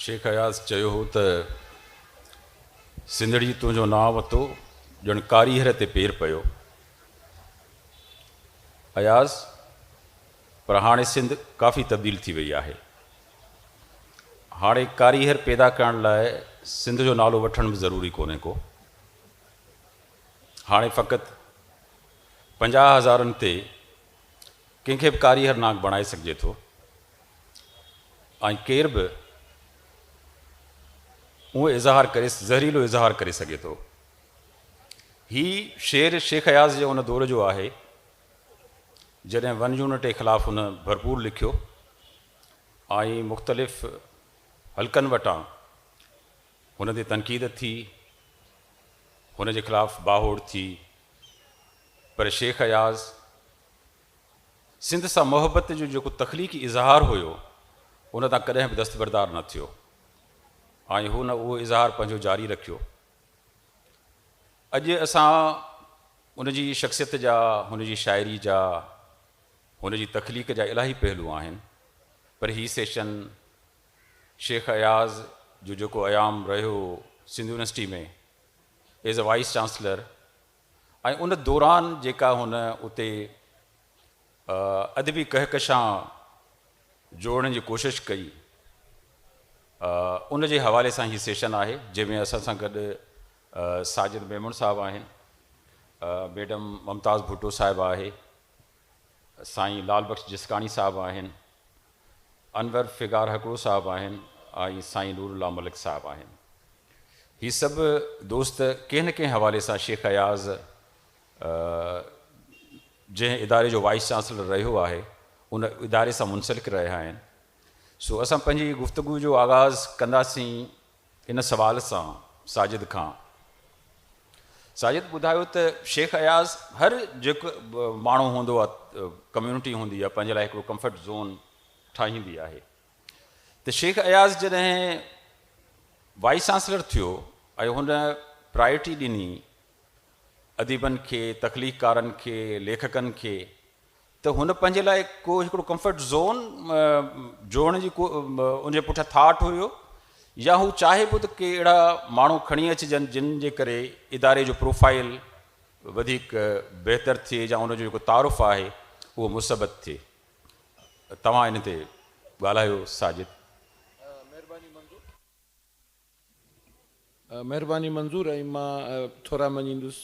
شيخ اياز چيو هو ته سنڌڙي تنهنجو نانء وتو ڄڻ ڪاريهر تي پير پيو. اياز پر هاڻي سنڌ ڪافي تبديل ٿي وئي آهي. هاڻي ڪاريهر پيدا ڪرڻ لاء سنڌ جو نالو وٺڻ به ضروري ڪونهي ڪو. هاڻي فقط پنجاهه هزارن تي ڪنهن کي به ڪاريهر ناڪ بڻائي سگهجي ٿو ۽ ڪير به اهو اظهار ڪري زهريلو اظهار ڪري سگهي ٿو هي شعر شيخ اياز جي ان دور جو آهي جڏهن ون يونٽ جي خلاف هن ڀرپور لکيو ۽ مختلف حلقن وٽان هن تي تنقيد ٿي، هن جي خلاف باهوڙ ٿي، پر شيخ اياز سنڌ سان محبت جو جيڪو تخليقي اظهار هيو، ان تان ڪڏهن به دستبردار نه ٿيو ۽ هن اهو اظهار پنهنجو جاري رکيو. اڄ اسان ان جي شخصيت جا، هن جي شاعري جا، هن جي تخليق جا الاهي پهلو آهن، پر هي سيشن، شيخ اياز جو جيڪو ايام رهيو هو Sindh university ۾ as a vice chancellor ۽ ان دوران جيڪا هن اتي ادبي ڪهڪشان جوڙڻ جي ڪوشش ڪئي ان جي حوالي سان هي سيشن آهي جنهن ۾ اسان سان گڏ ساجد ميمڻ صاحب آهن ميڊم ممتاز ڀٽو صاحبه آهي سائين لعل بخش جسڪاڻي صاحب آهن، انور فگار هڪڙو صاحب آهن ۽ سائين نور الله ملڪ صاحب آهن. هي سڀ دوست ڪنهن نه ڪنهن حوالي سان شيخ اياز جنهن اداري جو وائيس چانسلر رهيو آهي ان اداري سان منسلڪ رهيا آهن. سو اسان پنهنجي گفتگو جو آغاز ڪنداسين ان سوال سان ساجد کان ساجد ٻڌايو ته شيخ اياز هر جيڪ ماڻهو هوندو آهي ڪميونٽي هوندي آهي پنهنجي لاء هڪڙو ڪمفرٽ زون ٺاهيندي آهي ته شيخ اياز جڏهن وائيس چانسلر ٿيو ۽ هن پرائرٽي ڏني اديبن کي تخليقڪارن کي ليکڪن کي ته هن پنهنجي لاء ڪو هڪڙو ڪمفرٽ زون جوڙڻ جي ڪو ان جي پٺيان ٿاٽ هيو يا هو چاهي پيو ته ڪي اهڙا ماڻهو کڻي اچجن جن جي ڪري اداري جو پروفائيل وڌيڪ بهتر ٿئي يا ان جو جيڪو تعارف آهي اهو مثبت ٿئي توهان ان تي ڳالهايو ساجد. مهرباني منظور. مهرباني منظور ۽ مان ٿورا مڃيندس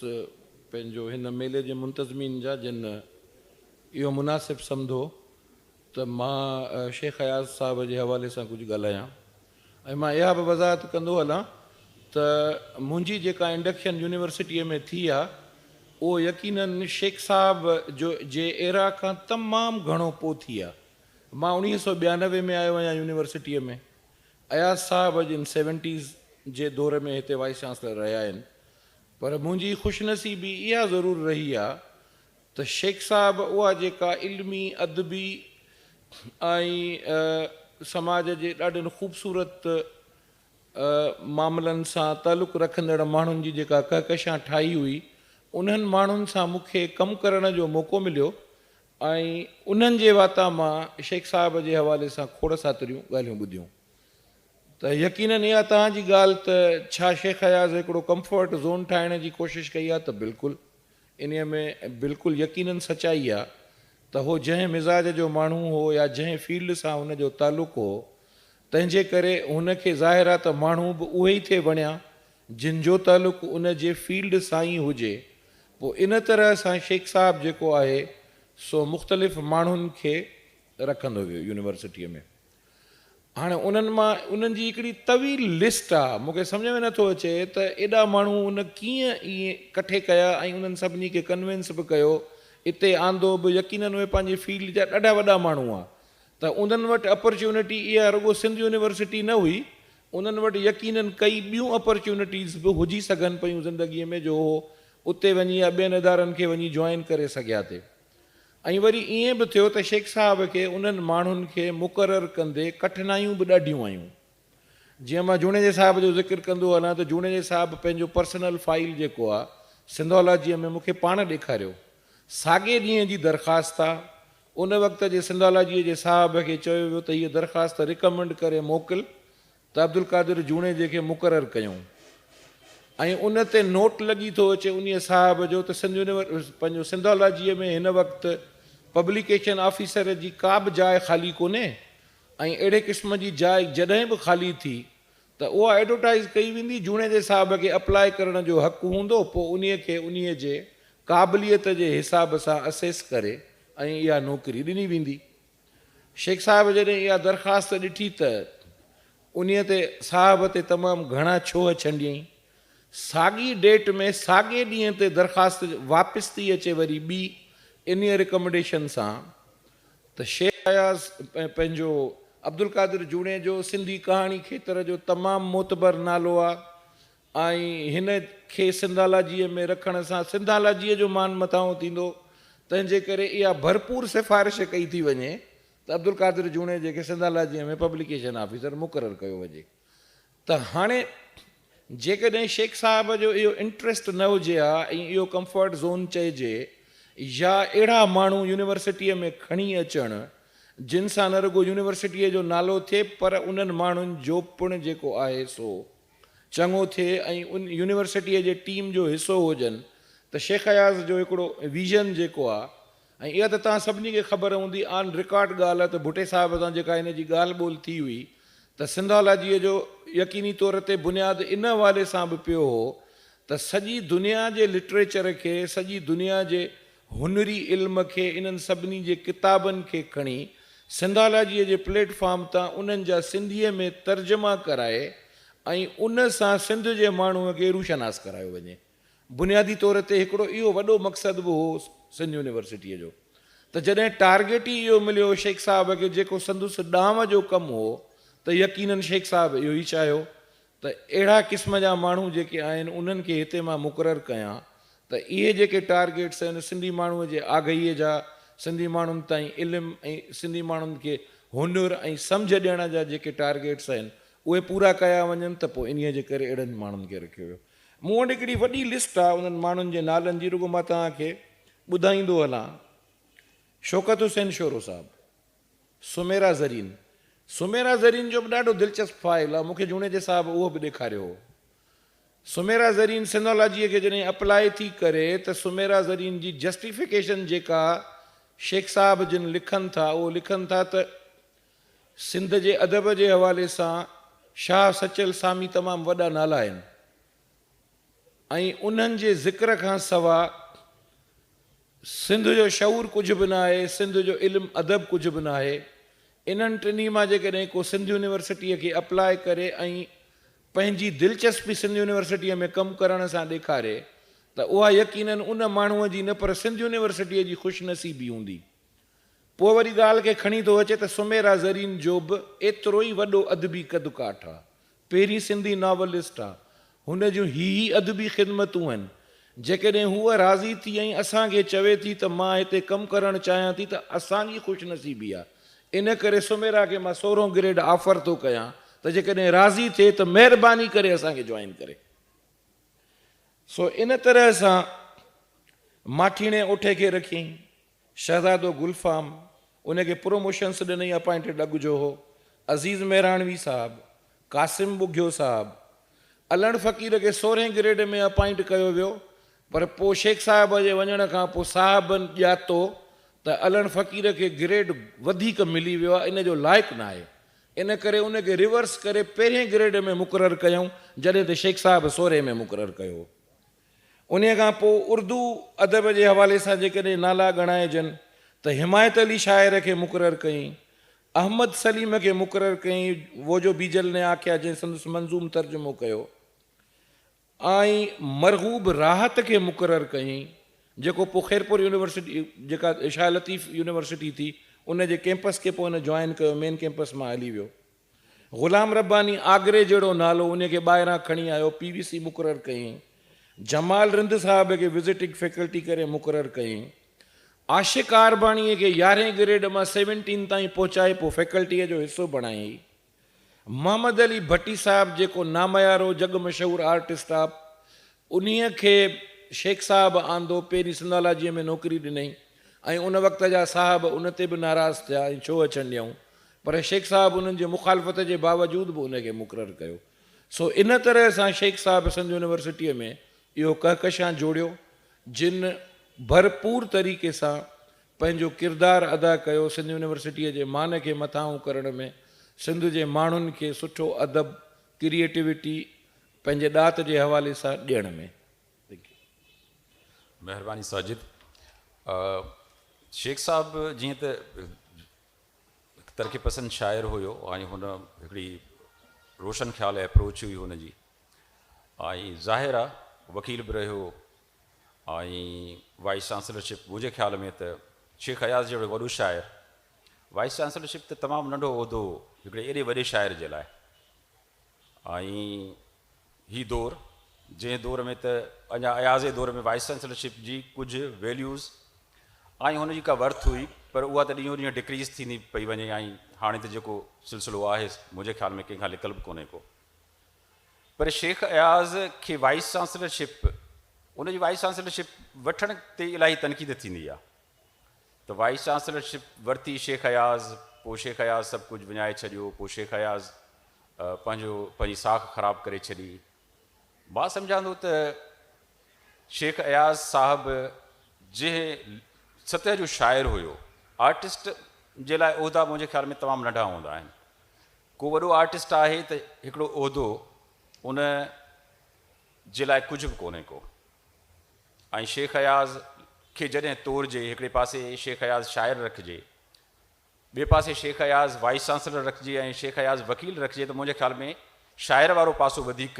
پنهنجو هن ميلي جي منتظمين جا جن اهو مناسب سمڌو ته مان شيخ اياز صاحب جي حوالي سان ڪجهه ڳالهايان ۽ مان اها به وضاحت ڪندو هلان ته منهنجي جيڪا انڊڪشن يونيورسٽيء ۾ ٿي آ اهو يقينن شيخ صاحب جو جي ايرا کان تمام گهڻو پو ٿي آ مان اڻيهه سؤ ٻيانوي ۾ آيو آهيان يونيورسٽيء ۾ اياز صاحب اڄ ان سيونٽيز جي دور ۾ هتي وائيس چانسلر رهيا آهن پر منهنجي خوش نصيبي اها ضرور رهي آ ته شيخ صاحب اها جيڪا علمي، ادبي ۽ سماج جي ڏاڍن خوبصورت معاملن سان تعلق رکندڙ ماڻهن جي جيڪا ڪهڪشان ٺاهي هئي انهن ماڻهن سان مون کي ڪم ڪرڻ جو موقعو مليو ۽ انهن جي واتان مان شيخ صاحب جي حوالي سان کوڙ ساتريون ڳالهيون ٻڌيون ته يقينن اها توهان جي ڳالهه ته ڇا شيخ اياز هڪڙو ڪمفرٽ زون ٺاهڻ جي ڪوشش ڪئي آهي ته بلڪل انهيء ۾ بلڪل يقينن سچائي آهي ته هو جنهن مزاج جو ماڻهو هو يا جنهن فيلڊ سان هن جو تعلق هو تنهنجي ڪري هن کي ظاهر آهي ته ماڻهو به اهي ئي ٿي بڻيا جن جو تعلق ان جي فيلڊ سان ئي هجي پوء ان طرح سان شيخ صاحب جيڪو آهي سو مختلف ماڻهن کي رکندو ويو يونيورسٽيء ۾ هاڻي انهن مان انهن جي هڪڙي طويل لسٽ آ مون کي سمجهه ۾ نٿو اچي ته ايڏا ماڻهو ان ڪيئن ائين ڪٺي ڪيا ۽ انهن سڀني کي ڪنوينس به ڪيو اتي آندو به يقينن اهي پنهنجي فيلڊ جا ڏاڍا وڏا ماڻهو آ ته انهن وٽ اپرچونٽي اها رڳو سنڌ يونيورسٽي نه هئي انهن وٽ يقينن ڪئي ٻيون اپرچونٽيز به هجي سگهن پيون زندگي ۾ جو هو اتي وڃي يا ٻين ادارن کي وڃي جوائن ڪري سگهيا ٿي ۽ وري ائين به ٿيو ته شيخ صاحب کي انهن ماڻهن کي مقرر ڪندي ڪٺنايون به ڏاڍيون آيون جيئن مان جوڻيجي صاحب جو ذڪر ڪندو هلان ته جوڻيجي صاحب پنهنجو پرسنل فائيل جيڪو آ سنڌالاجيء ۾ مونکي پاڻ ڏيکاريو ساڳئي ڏينهن جي درخواست آ ان وقت جي سنڌالاجيء جي صاحب کي چيو ويو ته هيء درخواست رڪمنڊ ڪري موڪل ته عبدالقادر جوڻيجي کي مقرر ڪيون ۽ ان تي نوٽ لڳي ٿو اچي انهيء صاحب جو ته سنڌ يونيورسٽيء پنهنجو سنڌالاجيء ۾ هن وقت پبليڪيشن آفيسر جي ڪا به جاء خالي ڪونهي ۽ اهڙي قسم جي جاء جڏهن به خالي ٿي ته اها ايڊورٽائيز ڪئي ويندي، جوڻيجي صاحب کي اپلائي ڪرڻ جو حق هوندو، پوء انهي کي انهي جي قابليت جي حساب سان اسيس ڪري ۽ اها نوڪري ڏني ويندي. شيخ صاحب جڏهن اها درخواست ڏٺي ته انهي تي صاحب تي تمام گهڻا ڇوهه ڇنڊيائين. ساڳي ڊيٽ ۾ ساڳي ڏينهن تي درخواست واپس ٿي اچي وري ٻي انهي رڪمنڊيشن سان ته شيخ اياز ۽ پنهنجو عبدالقادر جوڻيجو سنڌي ڪهاڻي کيتر جو تمام معتبر نالو آ ۽ هن کي سنڌالاجيء ۾ رکڻ سان سنڌالاجيء جو مان مٿانهون ٿيندو تنهنجي ڪري اها ڀرپور سفارش ڪئي ٿي وڃي ته عبدالقادر جوڻيجي کي سنڌالاجيء ۾ پبليڪيشن آفيسر مقرر ڪيو وڃي ته هاڻي جيڪڏهن شيخ صاحب جو اهو انٽريسٽ نه هجي ها ۽ اهو ڪمفرٽ زون چئجي يا اهڙا ماڻهو يونيورسٽيء ۾ کڻي اچڻ جن سان نه رڳو يونيورسٽيء جو نالو ٿئي پر انهن ماڻهن جو پڻ جيڪو آهي سو چڱو ٿئي ۽ يونيورسٽيء جي ٽيم جو حصو هجن ته شيخ اياز جو هڪڙو ويزن جيڪو آهي ۽ اها ته توهان سڀني کي خبر هوندي آن رڪارڊ ڳالهه ته ڀٽي صاحب سان جيڪا هن جي ڳالهه ٻولهه ٿي هئي ته سنڌالاجيء جو يقيني طور تي بنياد ان حوالي سان به پيو هو ته سڄي دنيا جي لٽريچر کي، سڄي دنيا جي هنري علم کي، انهن سڀني جي ڪتابن کي کڻي سنڌالاجيء جي پليٽ فارم تان انهن جا سنڌيء ۾ ترجما ڪرائي ۽ ان سان سنڌ جي ماڻهوء کي روشناس ڪرايو وڃي. بنيادي طور تي هڪڙو اهو وڏو مقصد به هو سنڌ يونيورسٽيء جو ته جڏهن ٽارگيٽ ئي اهو مليو شيخ صاحب کي جيڪو سندس ڏانء جو ڪم هو ته يقينن شيخ صاحب اهو ئي چاهيو ته اهڙا قسم جا ماڻهو جيڪي آهن انهن کي هتي مان مقرر ڪيان ته اهي جيڪي ٽارگيٽس آهن سنڌي ماڻهوء جي آگهيء جا سنڌي ماڻهن تائين علم ۽ سنڌي ماڻهن کي هنر ۽ سمجهه ڏيڻ جا جيڪي ٽارگيٽس آهن اهي پورا ڪيا وڃن ته پوء انهيء جي ڪري اهڙن ماڻهن کي رکيو ويو مون وٽ هڪڙي وڏي لسٽ آ انهن ماڻهن جي نالن جي رڳو مان توهان کي ٻڌائيندو هلان شوڪت حسين شورو صاحب، سميرا زرين، سميرا زرين جو به ڏاڍو دلچسپ فائل آ مون کي جوڻيجي صاحب اهو به ڏيکاريو هو. سميرا زرين سنڌالاجيء کي جڏهن اپلائي ٿي ڪري ته سميرا زرين جي جسٽيفڪيشن جيڪا شيخ صاحب جن لکن ٿا اهو لکن ٿا ته سنڌ جي ادب جي حوالي سان شاهه سچل سامي تمام وڏا نالا آهن ۽ انهن جي ذڪر کان سوا سنڌ جو شعور ڪجهه به نه آهي، سنڌ جو علم ادب ڪجهه به نه آهي. انهن ٽنهي مان جيڪڏهن ڪو سنڌ يونيورسٽيء کي اپلاء ڪري ۽ پنهنجي دلچسپي سنڌ يونيورسٽيء ۾ ڪم ڪرڻ سان ڏيکاري ته اها يقينن ان ماڻهوء جي نه پر سنڌ يونيورسٽيء جي خوش نصيبي هوندي. پوء وري ڳالهه کي کڻي ٿو اچي ته سميرا زرين جو به ايترو ئي وڏو ادبي قد ڪاٺ آ. پهرين سنڌي ناولسٽ آ. هن جون هي ئي ادبي خدمتون هن. جيڪڏهن هوء راضي ٿي ۽ اسان کي چوي ٿي ته مان هتي ڪم ڪرڻ چاهيان ٿي ته اسان جي خوش نصيبي آ. ان ڪري سميرا کي مان سورهون گريڊ آفر ٿو ڪيان ته جيڪڏهن راضي ٿئي ته مهرباني ڪري اسان کي جوائن ڪري. سو ان طرح سان ماٺيڻي اٺي کي رکيائين. شهزادو گل فام ان کي پروموشنس ڏنئي اپائنٽيڊ اڳ جو هو. عزيز مهراڻوي صاحب، قاسم ٻگهيو صاحب. علڻ فقير کي سورهين گريڊ ۾ اپائنٽ ڪيو ويو پر پوء شيخ صاحب جي وڃڻ کان پوء صاحبن ڄاتو ته علڻ فقير کي گريڊ وڌيڪ ملي ويو آهي ان جو لائق ناهي ان ڪري ان کي ريورس ڪري پهرين گريڊ ۾ مقرر ڪيائون جڏهن ته شيخ صاحب سورهين ۾ مقرر ڪيو هو. انهيء کان پوء اردو ادب جي حوالي سان جيڪڏهن نالا ڳڻائجن ته حمايت علي شاعر کي مقرر ڪيائين، احمد سليم کي مقرر ڪيائين، وو جو بيجل ني آکيا جنهن سندس منظوم ترجمو ڪيو، ۽ مرغوب راحت کي مقرر ڪيائين، جيڪو پوء خيرپور يونيورسٽي جيڪا شاهه لطيف يونيورسٽي ٿي، ان جي ڪيمپس کي پوء هن جوائن ڪيو، مين ڪيمپس مان هلي ويو. غلام رباني آگري جهڙو نالو انهي کي ٻاهران کڻي آيو پي وي سي مقرر ڪيائين جمال رند صاحب کي وزٽنگ فيڪلٽي ڪري مقرر ڪيائين عاشق آرباڻي کي يارهين گريڊ مان سيونٽين تائين پهچائي پوء فيڪلٽي جو حصو بڻايائين محمد علي ڀٽي صاحب جيڪو ناميارو جڳ مشهور آرٽسٽ آ انهي کي شيخ صاحب آندو پهرين سنڌالاجي ۾ نوڪري ڏنائين ۽ ان وقت جا صاحب ان تي به ناراض ٿيا ۽ ڇو اچڻ ڏيائون پر شيخ صاحب انهن جي مخالفت جي باوجود به ان کي مقرر ڪيو. سو ان طرح سان شيخ صاحب سنڌ يونيورسٽيء ۾ اهو ڪهڪشان جوڙيو، جن ڀرپور طريقي سان پنهنجو ڪردار ادا ڪيو، سنڌ يونيورسٽيء جي مان کي مٿانهون ڪرڻ ۾، سنڌ جي ماڻهن کي سٺو ادب، ڪريئيٽوٽي پنهنجي ڏات جي حوالي سان ڏيڻ ۾. Thank you. مهرباني ساجد. شيخ صاحب جيئن ته. هڪ ترقي پسند شاعر هيو ۽ هن هڪڙي روشن خيال اپروچ هئي هن جي ۽ ظاهر آ وڪيل به رهيو ۽ وائس چانسلرشپ منهنجي خيال ۾ ته شيخ اياز جهڙو وڏو شاعر وائس چانسلرشپ ته تمام ننڍو عهدو هو هڪڙي ايڏي وڏي شاعر جي لاء ۽ هي دور جنهن دور ۾ ته اڃا اياز جي دور ۾ وائيس چانسلر شپ جي ڪجهه ويليوز ۽ هن جي ڪا ورٿ هئي پر اها ته ڏينهون ڏينهن ڊڪريز ٿيندي پئي وڃي ۽ هاڻي ته جيڪو سلسلو آهي منهنجي خيال ۾ ڪنهن کان لڪل به ڪونهي ڪو پر شيخ اياز کي وائيس چانسلر شپ ان جي وائيس چانسلر شپ وٺڻ تي الاهي تنقيد ٿيندي آهي ته وائيس چانسلر شپ ورتي شيخ اياز پوء شيخ اياز سڀ ڪجهه وڃائي ڇڏيو پوء شيخ اياز پنهنجو پنهنجي ساک خراب ڪري ڇڏي مان سمجهان ٿو ته شيخ اياز صاحب جنهن سطح جو شاعر هيو آرٽسٽ جي لاء عهدا منهنجي خيال ۾ تمام ننڍا هوندا آهن ڪو وڏو آرٽسٽ آهي ته هڪڙو عهدو ان جي لاء ڪجهه به ڪونهي ڪو ۽ شيخ اياز کي جڏهن تورجي، هڪڙي پاسي شيخ اياز شاعر رکجي، ٻئي پاسي شيخ اياز وائيس چانسلر رکجي ۽ شيخ اياز وڪيل رکجي ته منهنجي خيال ۾ شاعر وارو پاسو وڌيڪ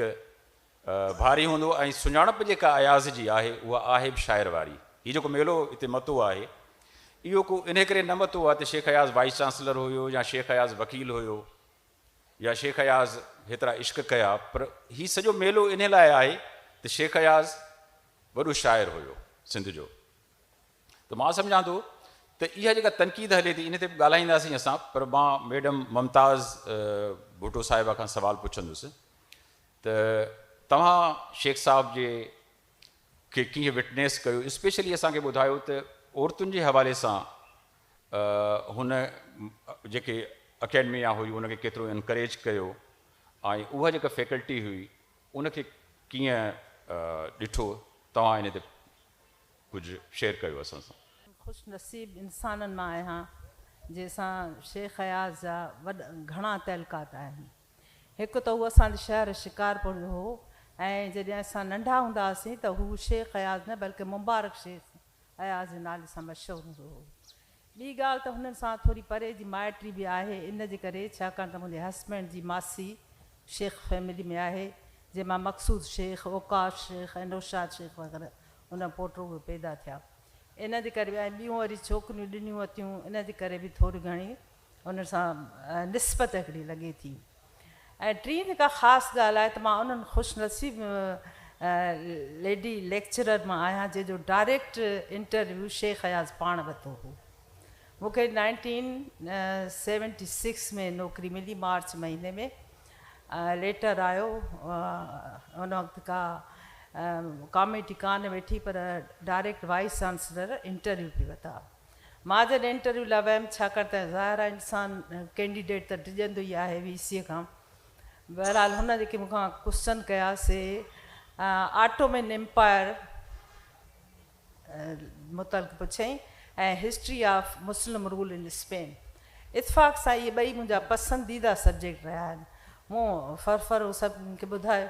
ڀاري هوندو ۽ سڃاڻپ جيڪا اياز جي آهي اها آهي به شاعر واري. هي جيڪو ميلو هتي متو آهي اهو ڪو انهي ڪري نه متو آهي ته شيخ اياز وائيس چانسلر هيو يا شيخ اياز وڪيل هيو. يا شيخ اياز هيترا عشق ڪيا پر هي سڄو ميلو انهي لاء آهي ته شيخ اياز وڏو شاعر هيو سنڌ جو ته مان سمجهان ٿو ته اها جيڪا تنقيد هلي ٿي ان تي به ڳالهائينداسين اسان پر مان ميڊم ممتاز ڀٽو صاحبه کان سوال پڇندس ته توهان شيخ صاحب جي کي ڪيئن وٽنيس ڪيو اسپيشلي اسان کي ٻڌايو ته عورتن جي حوالي سان هن جيڪي اڪيڊمي آ هئي ان کي ڪيترو انڪريج ڪيو ۽ اها جيڪا فيڪلٽي هئي ان کي ڪيئن ڏٺو توهان ان تي ڪجهه شيئر ڪيو اسان سان. خوش نصيب انسانن مان آهيان جنهن سان شيخ اياز جا وڏ گهڻا تعلقات آهن هڪ ته هو اسان جي شهر شڪارپور جو هو ۽ جڏهن اسان ننڍا هوندا هئاسين ته هو شيخ اياز نه بلڪه مبارڪ شيخ اياز جي نالي سان مشهور هوندو هو. ٻي ڳالهه ته هنن سان ٿوري پري جي مائٽري به آهي ان جي ڪري ڇاڪاڻ ته منهنجي هسبينڊ جي ماسي شيخ فيملي ۾ آهي جنهن مان مقصود شيخ، اوقاف شيخ ۽ نوشاد شيخ وغيره هنن پوٽو اهي پيدا ٿيا ان جي ڪري به ۽ ٻيون وري ڇوڪريون ڏنيون وتيون ان جي ڪري به ٿوري گهڻي ان سان نسبت هڪڙي لڳي ٿي ۽ ٽين جيڪا خاص ڳالهه آهي ته مان انهن خوش نصيب ليڊي ليڪچرر مان آهيان جنهن جو ڊائريڪٽ انٽرويو شيخ اياز پاڻ ورتو هو مون کي نائنٽين سيونٽي سڪس ۾ نوڪري ملي مارچ مهيني ۾ ليٽر آيو ان وقت ڪا ڪاميٽي ڪانه ويٺي پر ڊائريڪٽ وائيس چانسلر انٽرويو پي وتا مان جڏهن انٽرويو لاء ويم ڇاڪاڻ ته ظاهر آهي انسان ڪينڊيڊيٽ ته ڊڄندو ئي آهي وي سيء کان بهرحال هن جيڪي مون کان ڪوسچن ڪيا سي آٽومين امپائر متعلق پڇيائين ۽ history of Muslim rule in Spain اتفاق سان اهي ٻئي منهنجا پسنديده سبجيڪٽ رهيا آهن. مون ڦرڦر هو سڀ هن کي ٻڌايو.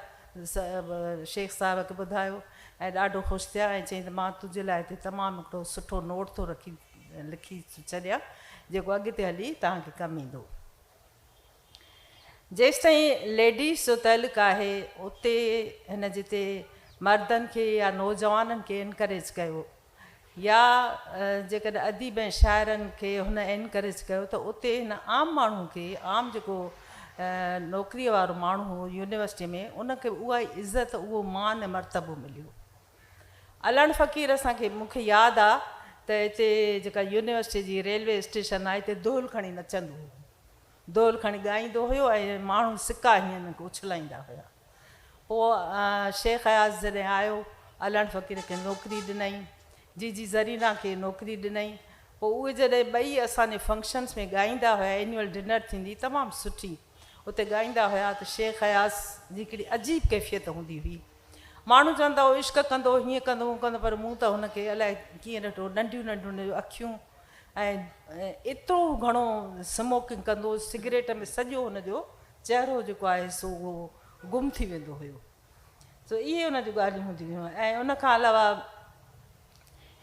شيخ صاحب کي ٻڌايو ۽ ڏاڍو خوش ٿيا ۽ چيائين ته مان تنهنجي لاء هتي تمام هڪڙو سٺو نوٽ ٿو رکي لکي ڇڏيان جيڪو اڳتي هلي توهان کي ڪم ايندو. جيستائين ليڊيز جو تعلق آهي اتي هن جتي مردن کي يا نوجوانن کي انڪريج ڪيو. يا جيڪڏهن اديب ۽ شاعرن کي هن انڪريج ڪيو ته اتي هن عام ماڻهو کي عام جيڪو نوڪريء وارو ماڻهو هو يونيورسٽيء ۾ ان کي به اها ئي عزت اهو مان ۽ مرتبو مليو. علڻ فقير اسان کي مون کي ياد آ ته اتي جيڪا يونيورسٽيء جي ريلوي اسٽيشن آ اتي دهل کڻي نچندو هو. دول کڻي ڳائيندو هيو ۽ ماڻهو سڪا هيئن اڇلائيندا هيا. پوء شيخ اياز جڏهن آيو، علڻ فقير کي نوڪري ڏنائين، جي جي زرينا کي نوڪري ڏنائين. پوء اهي جڏهن ٻئي اسان جي فنڪشنس ۾ ڳائيندا هيا، اينيول ڊنر ٿيندي تمام سٺي، اتي ڳائيندا هيا ته شيخ اياز جي هڪڙي عجيب ڪيفيت هوندي هئي. ماڻهو چوندا هئا عشق ڪندو، هيئن ڪندو، هون ڪندو پر مون ته هن کي الائي ڪيئن ڏٺو، ننڍيون ننڍيون هن جون اکيون، ۽ ايترو گهڻو سموڪنگ ڪندو هو سگريٽ ۾ سڄو هن جو چهرو جيڪو آهي سو اهو گم ٿي ويندو هيو سو اهي هن جون ڳالهيون هونديون هيون ۽ ان کان علاوه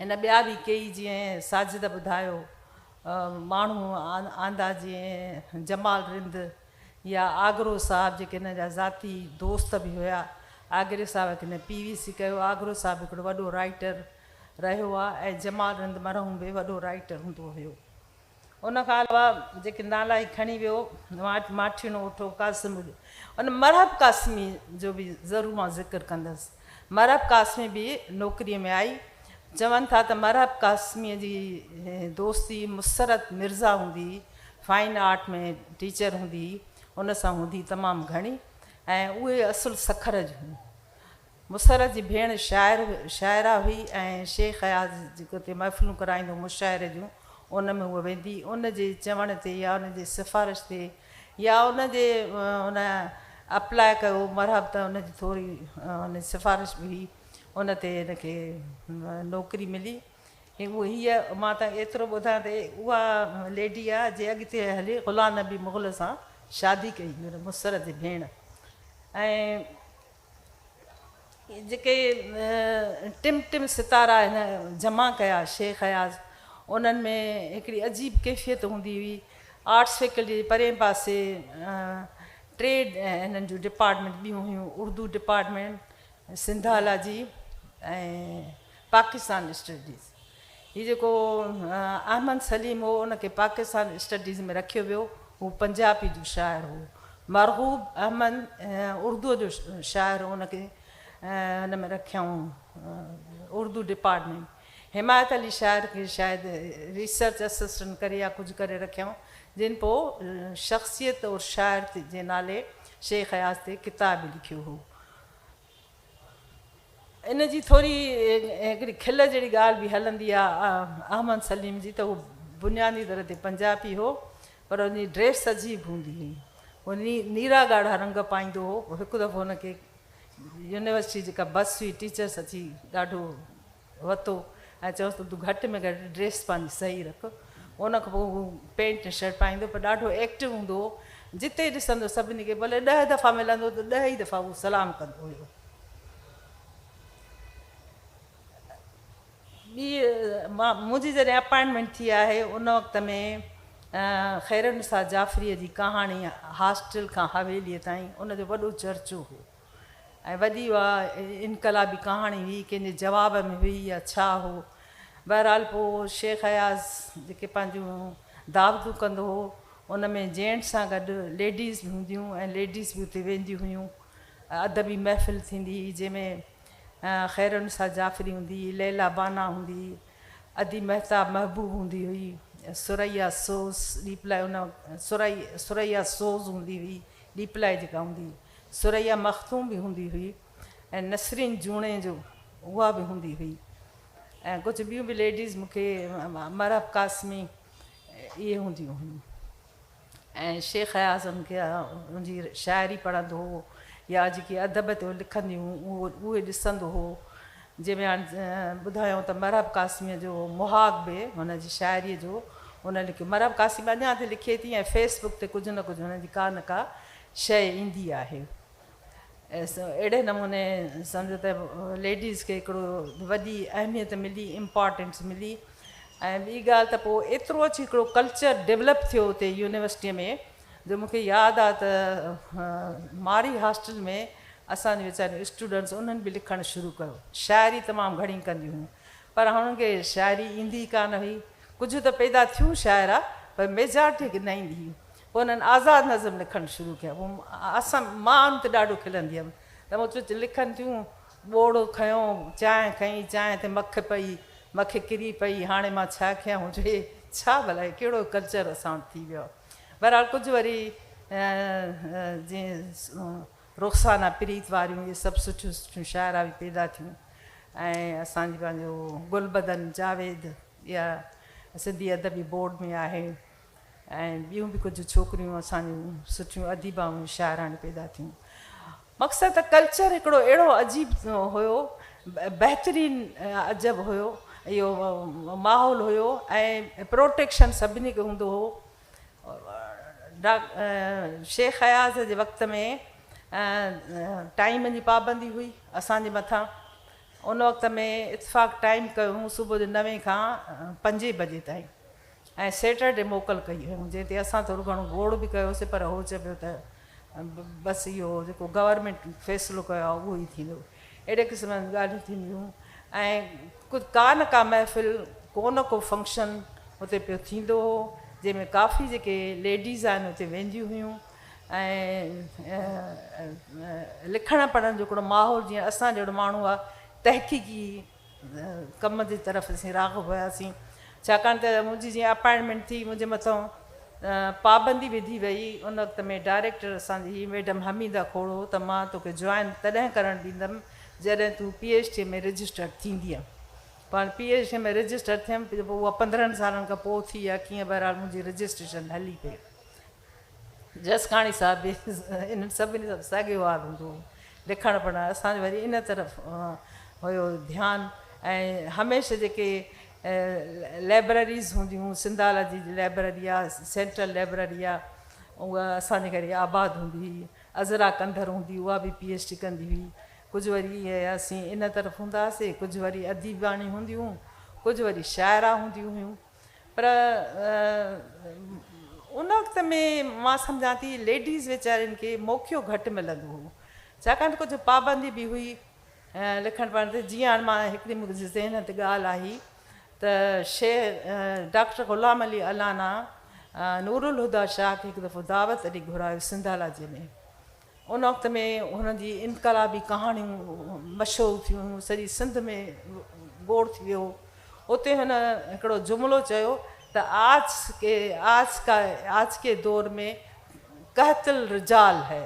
هن ٻيا به ڪيئي جيئن ساجده ٻڌايو ماڻهو آندا جيئن جمال رند يا آگرو صاحب جيڪي هن جا ذاتي دوست به هيا آگري صاحب کي هن پي وي سي ڪيو آگرو صاحب هڪڙو وڏو رائيٽر رهيو آ ۽ جمال رند مرحوم به وڏو رائيٽر هوندو هيو ان کان علاوه جيڪي نالا هي کڻي ويو ماٺيڻو اٺو قاسم اڏو ان مرحب قاسمي جو به ضرور مان ذڪر ڪندس مرحب قاسمي به نوڪري ۾ آئي چون ٿا ته مرحب قاسمي جي دوستي مسرت مرزا هوندي فائن آرٽ ۾ ٽيچر هوندي ان سان هوندي تمام گهڻي ۽ اهي اصل سکر جون مسرت جي ڀيڻ شاعر شاعره هئي ۽ شيخ اياز جيڪو اتي محفلون ڪرائيندو هو مشاعري جون ان ۾ هوء ويندي ان جي چوڻ تي يا ان جي سفارش تي يا ان جي ان اپلاء ڪيو مرحب ته ان جي ٿوري ان جي سفارش به هئي ان تي ان کي نوڪري ملي هئي مان تان ايترو ٻڌان ته اها ليڊي آ جي اڳتي هلي غلام نبي مغل سان شادي ڪئي هئي ان مسرت جي ڀيڻ ۽ جيڪي ٽم ٽم ستارا هن جمع ڪيا شيخ اياز انهن ۾ هڪڙي عجيب ڪيفيت هوندي هئي آرٽس فيڪلٽي جي پرين پاسي ٽي هنن جون ڊپارٽمينٽ ٻيون هيون اردو ڊپارٽمينٽ سنڌالاجي ۽ پاڪستان اسٽڊيز هي جيڪو احمد سليم هو ان کي پاڪستان اسٽڊيز ۾ رکيو ويو. هو پنجابي جو شاعر هو. مرغوب احمد اردوء جو شاعر هو ان کي هن ۾ رکيائون اردو ڊپارٽمينٽ. حمايت علي شاعر کي شايد ريسرچ اسسٽنٽ ڪري يا ڪجهه ڪري رکيائون جنھن پوء شخصيت اور شاعر جي نالي شيخ اياز تي ڪتاب به لکيو هو. ان جي ٿوري هڪڙي کل جهڙي ڳالهه به هلندي آ احمد سليم جي ته هو بنيادي طرح تي پنجابي هو پر ان جي ڊريس عجيب هوندي هئي. هو نيرا ڳاڙها رنگ پائيندو هو. هڪ دفعو هن کي يونيورسٽي جيڪا بس هئي ٽيچرس اچي ڏاڍو وتو ۽ چيوس ته تون گهٽ ۾ گهٽ ڊريس پنهنجي صحيح رک ان کان پوء هو پينٽ ۽ شرٽ پائيندو پر ڏاڍو ايڪٽو هوندو هو جتي ڏسندو سڀني کي ڀلي ڏهه دفعا ملندو ته ڏهه ئي دفعا اهو سلام ڪندو هيو ٻي منهنجي جڏهن اپائنٽمينٽ ٿي آهي ان وقت ۾ خيرالنساء جعفريء جي ڪهاڻي هاسٽل کان حويليء تائين ان جو وڏو چرچو هو ۽ وڏي اها انقلابي ڪهاڻي هئي ڪنهن جي جواب ۾ هئي يا ڇا هو بهرحال پوء شيخ اياز جيڪي پنهنجون دعوتون ڪندو هو ان ۾ جينٽس سان گڏ ليڊيز به هونديون ۽ ليڊيز به اتي وينديون هيون ادبي محفل ٿيندي هئي جنهن ۾ خيرالنساء جعفري هوندي هئي ليلا بانه هوندي هئي ادي مهتاب محبوب هوندي هئي ثريا سوز ڏيپلائي ان ثريا سوز هوندي هئي ڏيپلائي جيڪا هوندي هئي ثريا مخدوم به هوندي هئي ۽ نسرين جوڻيجو اها به هوندي هئي ۽ ڪجهه ٻيون به ليڊيز مون کي مرحب قاسمي اهي هونديون هيون ۽ شيخ اياز ان کي ان جي شاعري پڙهندو هو يا جيڪي ادب تي لکنديون هيون اهو اهي ڏسندو هو جنهن ۾ هاڻ ٻڌايائون ته مرحب قاسمي جو مهاڳ به هن جي شاعري جو ان لکيو مرحب قاسمي اڃا تائين لکي ٿي ۽ فيس بڪ تي ڪجهه نه ڪجهه هن جي ڪا نه ڪا شيء ايندي آهي. اهڙي نموني سمجهو ته ليڊيز کي هڪڙو وڏي اهميت ملي امپارٽينس ملي ۽ ٻي ڳالهه ته پوء ايترو اچي هڪڙو ڪلچر ڊيولپ ٿيو اتي يونيورسٽي ۾ جو مون کي ياد آ ته مارئي هاسٽل ۾ اسان جون ويچاريون اسٽوڊنٽس انهن به لکڻ شروع ڪيو شاعري تمام گهڻي ڪنديون هيون پر هنن کي شاعري ايندي ئي ڪانه هئي ڪجهه ته پيدا ٿيون شاعرا پر ميجارٽي کي نه ايندي هئي پوء هنن آزاد نظم لکڻ شروع ڪيا. پوء اسان مان ان تي ڏاڍو کلندي هيم ته مون چيو لکن ٿيون، ٻوڙو کنيو، چانهه کنئي، چانهه تي مک پئي، مک ڪري پئي، هاڻي مان ڇا ڪيان؟ مون چيو هي ڇا ڀلا هي ڪهڙو ڪلچر اسان وٽ ٿي ويو آهي. بهرحال ڪجهه وري جيئن رخسانه پريت واريون اهي سڀ سٺيون سٺيون شاعرا به پيدا ٿيون ۽ اسان جي پنهنجو گلبدن جاويد اها سنڌي ادبي بورڊ ۾ آهي. ۽ ٻيون به ڪجهه ڇوڪريون اسان جون سٺيون اديبائون شاعراڻيون پيدا ٿيون مقصد ته ڪلچر هڪڙو اهڙو عجيب هيو بهترين عجب هيو اهو ماحول هيو ۽ پروٽيڪشن سڀني کي هوندو هو شيخ اياز جي وقت ۾ ٽائيم جي پابندي هئي اسان جي مٿان ان وقت ۾ اتفاق ٽائيم ڪيو هو صبح جو نوين کان پنجين بجي تائين ۽ سيٽرڊي موڪل ڪئي هيون جنهن تي اسان ٿورو گهڻو گوڙ به ڪيو سي پر هو چيو ته بس اهو جيڪو گورنمينٽ فيصلو ڪيو آهي اهو ئي ٿيندو اهڙي قسم جون ڳالهيون ٿينديون ۽ ڪا نه ڪا محفل ڪو نه ڪو فنڪشن اتي پيو ٿيندو هو جنهن ۾ ڪافي جيڪي ليڊيز آهن اتي وينديون هيون ۽ لکڻ پڙهڻ جو هڪڙو ماحول جيئن اسان جهڙو ماڻهو آهي تحقيقي ڪم جي طرف اسين راغب هياسين ڇاڪاڻ ته منهنجي جيئن اپائنٽمينٽ ٿي منهنجي مٿان پابندي وڌي وئي ان وقت ۾ ڊائريڪٽر اسان جي ميڊم حميده کوڙو ته مان توکي جوائن تڏهن ڪرڻ ڏيندم جڏهن تون پي ايڇ ڊي ۾ رجسٽرڊ ٿيندينء پاڻ پي ايڇ ڊي ۾ رجسٽر ٿيم جو اها پندرهن سالن کان پوء ٿي يا ڪيئن بهرحال منهنجي رجسٽريشن هلي پئي جسڪاڻي صاحب به انهن سڀني سان ساڳيو حال هوندو هو. لکڻ پڙهڻ اسان جو وري ان طرف هيو ڌيان ۽ هميشه جيڪي لئبرريز هونديون هيون سنڌالاجي جي لئبرري آ سينٽرل لئبرري آ اها اسان جي گهري آباد هوندي هئي عذرا ڪنڌر هوندي هئي اها به پي ايڇ ڊي ڪندي هئي ڪجهه وري اسين ان طرف هوندا هئاسي ڪجهه وري اديباڻي هونديون هيون ڪجهه وري شاعرا هونديون هيون. پر ان وقت ۾ مان سمجهان ٿي ليڊيز ويچارين کي موقعو گهٽ ملندو هو ڇاڪاڻ ته ڪجهه پابندي به هئي لکڻ پڙهڻ تي جيئن هاڻ مان هڪڙي منهنجي ذهن تي ڳالهه آئي ته شيخ ڊاڪٽر غلام علي الانا نورالهديٰ شاهه کي هڪ دفعو دعوت ڏي گهرايو سنڌالاجيء ۾ ان وقت ۾ هن جي انقلابي ڪهاڻيون مشهور ٿيون، سڄي سنڌ ۾ گوڙ ٿي ويو. اتي هن هڪڙو جملو چيو ته آج ڪي آج ڪا آج ڪي دور ۾ قحط الرجال هي.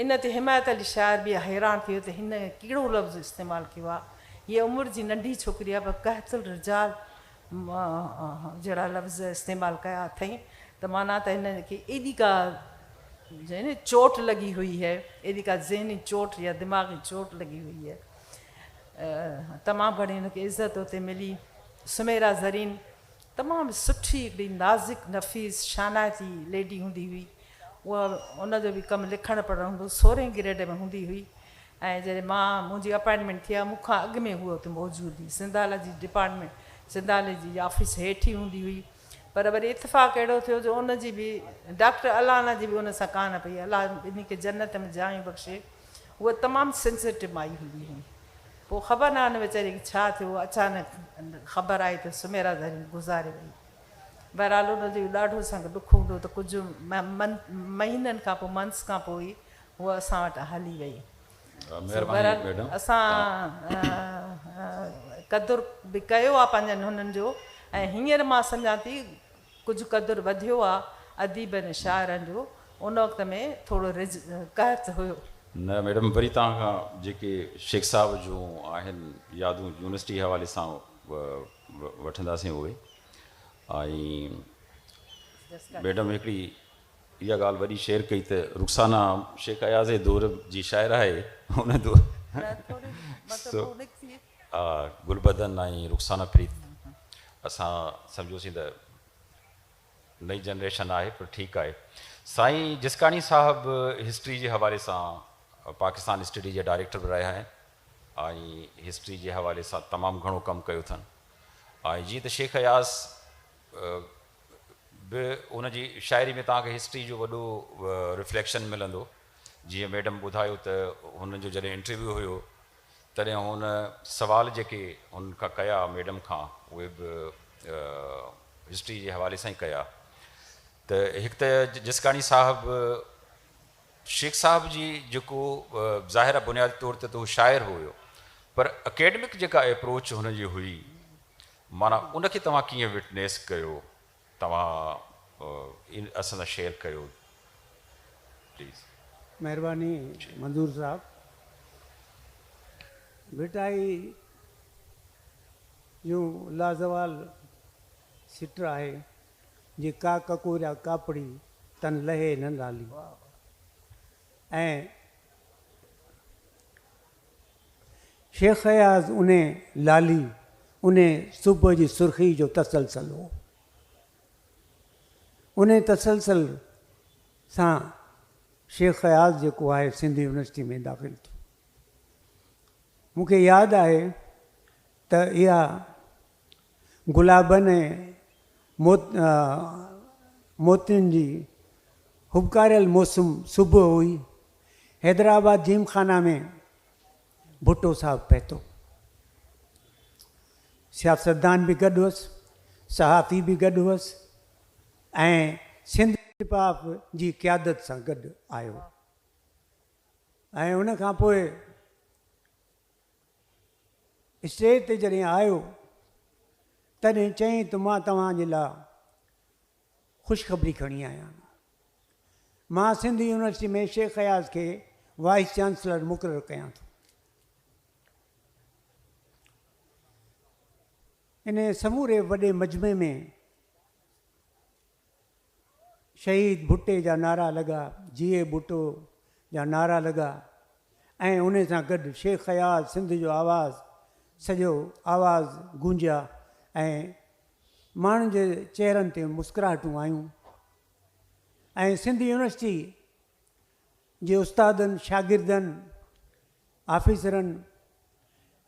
ان تي حمايت علي شاعر به حيران ٿي ويو ته هن ڪهڙو لفظ استعمال ڪيو آهي. هيء عمر جي ننڍي ڇوڪري آهي پر قحط الرجال جهڙا لفظ استعمال ڪيا اٿئي ته معنيٰ ته هن کي ايڏي ڪا ذهني چوٽ لڳي هئي هي، ايڏي ڪا ذهني چوٽ يا دماغي چوٽ لڳي هئي هي. تمام گهڻي هن کي عزت اتي ملي. سميرا زرين تمام سٺي هڪڙي نازڪ نفيس شانائتي ليڊي هوندي هئي. اها ان جو به ڪم لکڻ پڙهڻ هوندو هو. سورهين گريڊ ۾ هوندي هئي. ۽ جڏهن مان منهنجي اپائنٽمينٽ ٿي آ مون کان اڳ ۾ هوء اتي موجود هئي سنڌالاجي ڊپارٽمينٽ سنڌالاجي جي آفيس هيٺ ئي هوندي هئي پر وري اتفاق اهڙو ٿيو جو ان جي به ڊاڪٽر الانا جي به ان سان ڪانه پئي الله ٻنهي کي جنت ۾ جايون بخشي هوء تمام سينسيٽو مائي هوندي هئي پوء خبر ناهن ويچاري کي ڇا ٿيو اچانڪ خبر آئي ته سميرا زرين گذاري وئي بهرحال ان جو ڏاڍو سنگ ڏک هوندو ته ڪجهه مهينن کان پوء Months کان پوء ئي هوء اسان وٽ هلي وئي. سو بهرحال اسان قدر به ڪيو آ پنهنجن هنن جو ۽ هينئر مان سمجهان ٿي ڪجهه قدر وڌيو آ اديبن ۽ شاعرن جو ان وقت ۾ ٿورو رجع قحط هيو. نه ميڊم وري توهان کان جيڪي شيخ صاحب جون آهن يادون يونيورسٽي حوالي سان وٺنداسين اهي ۽ ميڊم هڪڙي اها ڳالهه وڏي شيئر ڪئي ته رخسانه شيخ اياز جي دور جي شاعره آهي ان دور ها گلبدن ۽ رخسانه پريت اسان سمجهيوسين ته نئي جنريشن آهي پر ٺيڪ آهي سائين جسڪاڻي صاحب هسٽري جي حوالي سان پاڪستان اسٽڊي جي ڊائريڪٽر به رهيا آهن ۽ هسٽري جي حوالي سان تمام گهڻو ڪم ڪيو اٿن ۽ جيئن ته شيخ اياز به ان جي شاعري ۾ توهان کي هسٽري جو وڏو رفليڪشن ملندو جيئن ميڊم ٻڌايو ته هن جو جڏهن انٽرويو هيو تڏهن هن سوال جيڪي هن کان ڪيا ميڊم کان اهي به هسٽري جي حوالي سان ئي ڪيا ته هڪ ته جسڪاڻي صاحب شيخ صاحب جي جيڪو ظاهر آ بنيادي طور تي ته هو شاعر هيو پر اڪيڊمڪ جيڪا اپروچ هن جي هئي معنيٰ ان کي توهان ڪيئن وٽنيس ڪيو توهان ان اسان سان شيئر ڪيو پليز. مهرباني منظور صاحب ڀٽائي جون لازوال سٽ آهي جي ڪا ڪڪوريا ڪاپڙي تن لهي نه لالي ۽ شيخ اياز انهي لالي، انهي صبح جي سرخي جو تسلسل هو. انهي تسلسل سان شيخ اياز جيڪو آهي سنڌ يونيورسٽي ۾ داخل ٿيو. مون کي ياد آهي ته اها گلابن ۽ موتين جي هٻڪاريل موسم صبح هئي. حيدرآباد جيم خانه ۾ ڀٽو صاحب پهتو. سياستدان به گڏ هئس، صحافي به گڏ هئس ۽ سنڌ پ پ جي قيادت سان گڏ آيو ۽ ان کان پوء اسٽيج تي جڏهن آيو تڏهن چيائين ته مان توهان جي لا خوشخبري کڻي آيا آهيان. مان سنڌ يونيورسٽي ۾ شيخ اياز کي وائيس چانسلر مقرر ڪيان ٿو. انهيء سموري وڏي مجمعي ۾ شهيد ڀٽي جا نعرا لڳا، جيئي ڀٽو جا نعرا لڳا ۽ انهي سان گڏ شيخ اياز سنڌ جو آواز سڄو آواز گونجيا ۽ ماڻهن جي چهرن تي مسڪراهٽون آيون ۽ سنڌ يونيورسٽي جي استادن شاگردن آفيسرن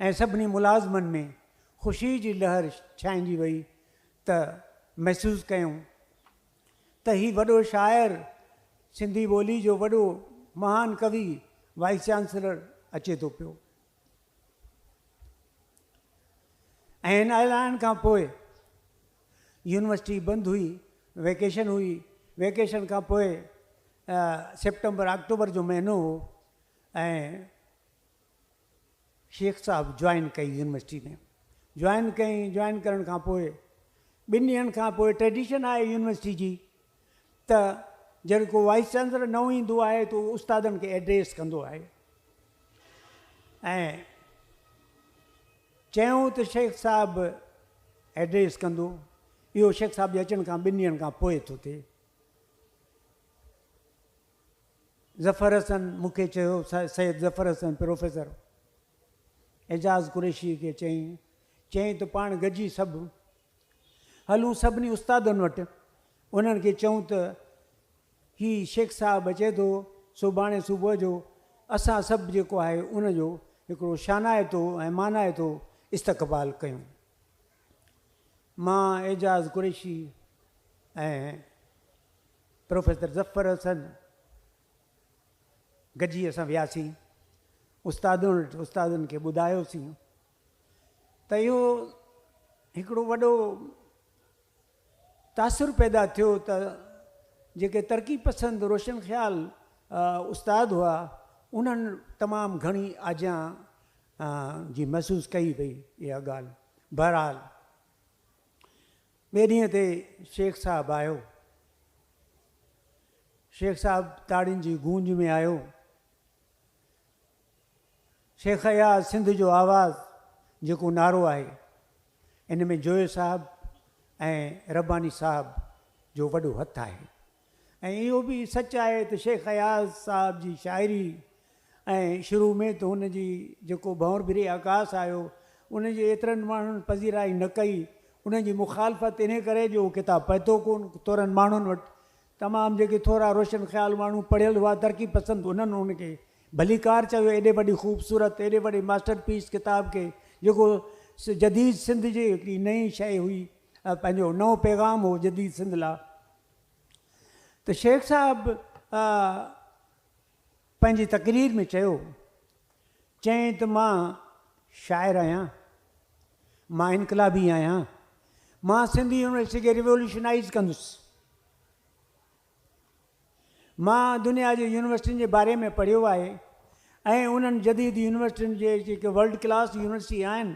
۽ سڀني ملازمن ۾ خوشي جي لهر ڇائنجي وئي ته محسوس ڪيون ته هي وڏو شاعر، سنڌي ٻولي جو وڏو مهان ڪوي وائيس چانسلر اچي ٿو پيو. ۽ هن اعلان کان پوء يونيورسٽي بند هئي، ويڪيشن هئي، ويڪيشن کان پوء سيپٽمبر آڪٽوبر جو مهينو هو، ۽ شيخ صاحب جوائن ڪئي يونيورسٽي ۾ جوائن ڪئين جوائن ڪرڻ کان پوء ٻن ڏينهن کان پوء ٽريڊيشن آهي يونيورسٽي جي ته جڏهن ڪو وائس چانسلر نئون ايندو آهي ته استادن کي ايڊريس ڪندو آهي ۽ چيائون ته شيخ صاحب ايڊريس ڪندو اهو شيخ صاحب جي اچڻ کان ٻن ڏينهن کان پوء ٿو ٿئي ظفر حسن مون کي چيو، سيد ظفر حسن پروفيسر اعجاز قريشيء کي چيائين، چيائين ته پاڻ گڏجي سڀ هلون سڀني استادن وٽ، انهن کي چئون ته هي شيخ صاحب اچي ٿو، سڀاڻي صبح جو اسان سڀ جيڪو آهي ان جو هڪڙو شانائتو ۽ مانائتو استقبال ڪيون. مان اعجاز قريشي ۽. پروفيسر ظفر حسن گڏجي اسان وياسين استادن وٽ استادن کي ٻڌايوسين ته اهو هڪڙو وڏو تاثر پيدا ٿيو ته جيڪي ترقي پسند روشن خيال استاد هئا انهن تمام گهڻي آجيان جي محسوس ڪئي وئي اها ڳالهه بهرحال ٻئي ڏينهن تي شيخ صاحب آيو. شيخ صاحب تاڙين جي گونج ۾ آيو. شيخ اياز سنڌ جو آواز جيڪو نعرو آهي ان ۾ جويي صاحب ۽ رباني صاحب جو وڏو هٿ آهي. ۽ اهو به سچ آهي ته شيخ اياز صاحب جي شاعري ۽ شروع ۾ ته هن جي جيڪو ڀنور ڀري آڪاس آيو ان جي ايترن ماڻهن پذيرائي نه ڪئي ان جي مخالفت انهي ڪري جو اهو ڪتاب پهتو ڪون تورن ماڻهن وٽ تمام جيڪي ٿورا روشن خيال ماڻهو پڙهيل هئا ترقي پسند انهن ان کي ڀليڪار چيو ايڏي وڏي خوبصورت ايڏي وڏي ماسٽر پيس ڪتاب کي جيڪو جديد سنڌ جي هڪڙي نئين شيء هئي پنهنجو نئون پيغام هو جديد سنڌ لا. ته شيخ صاحب پنهنجي تقرير ۾ چيو، چيائين ته مان شاعر آهيان، مان انقلابي آهيان، مان سنڌ يونيورسٽي کي ريولوشنائيز ڪندس، مان دنيا جي يونيورسٽين جي باري ۾ پڙهيو آهي ۽ انهن جديد يونيورسٽين جي جيڪي ورلڊ ڪلاس يونيورسٽي آهن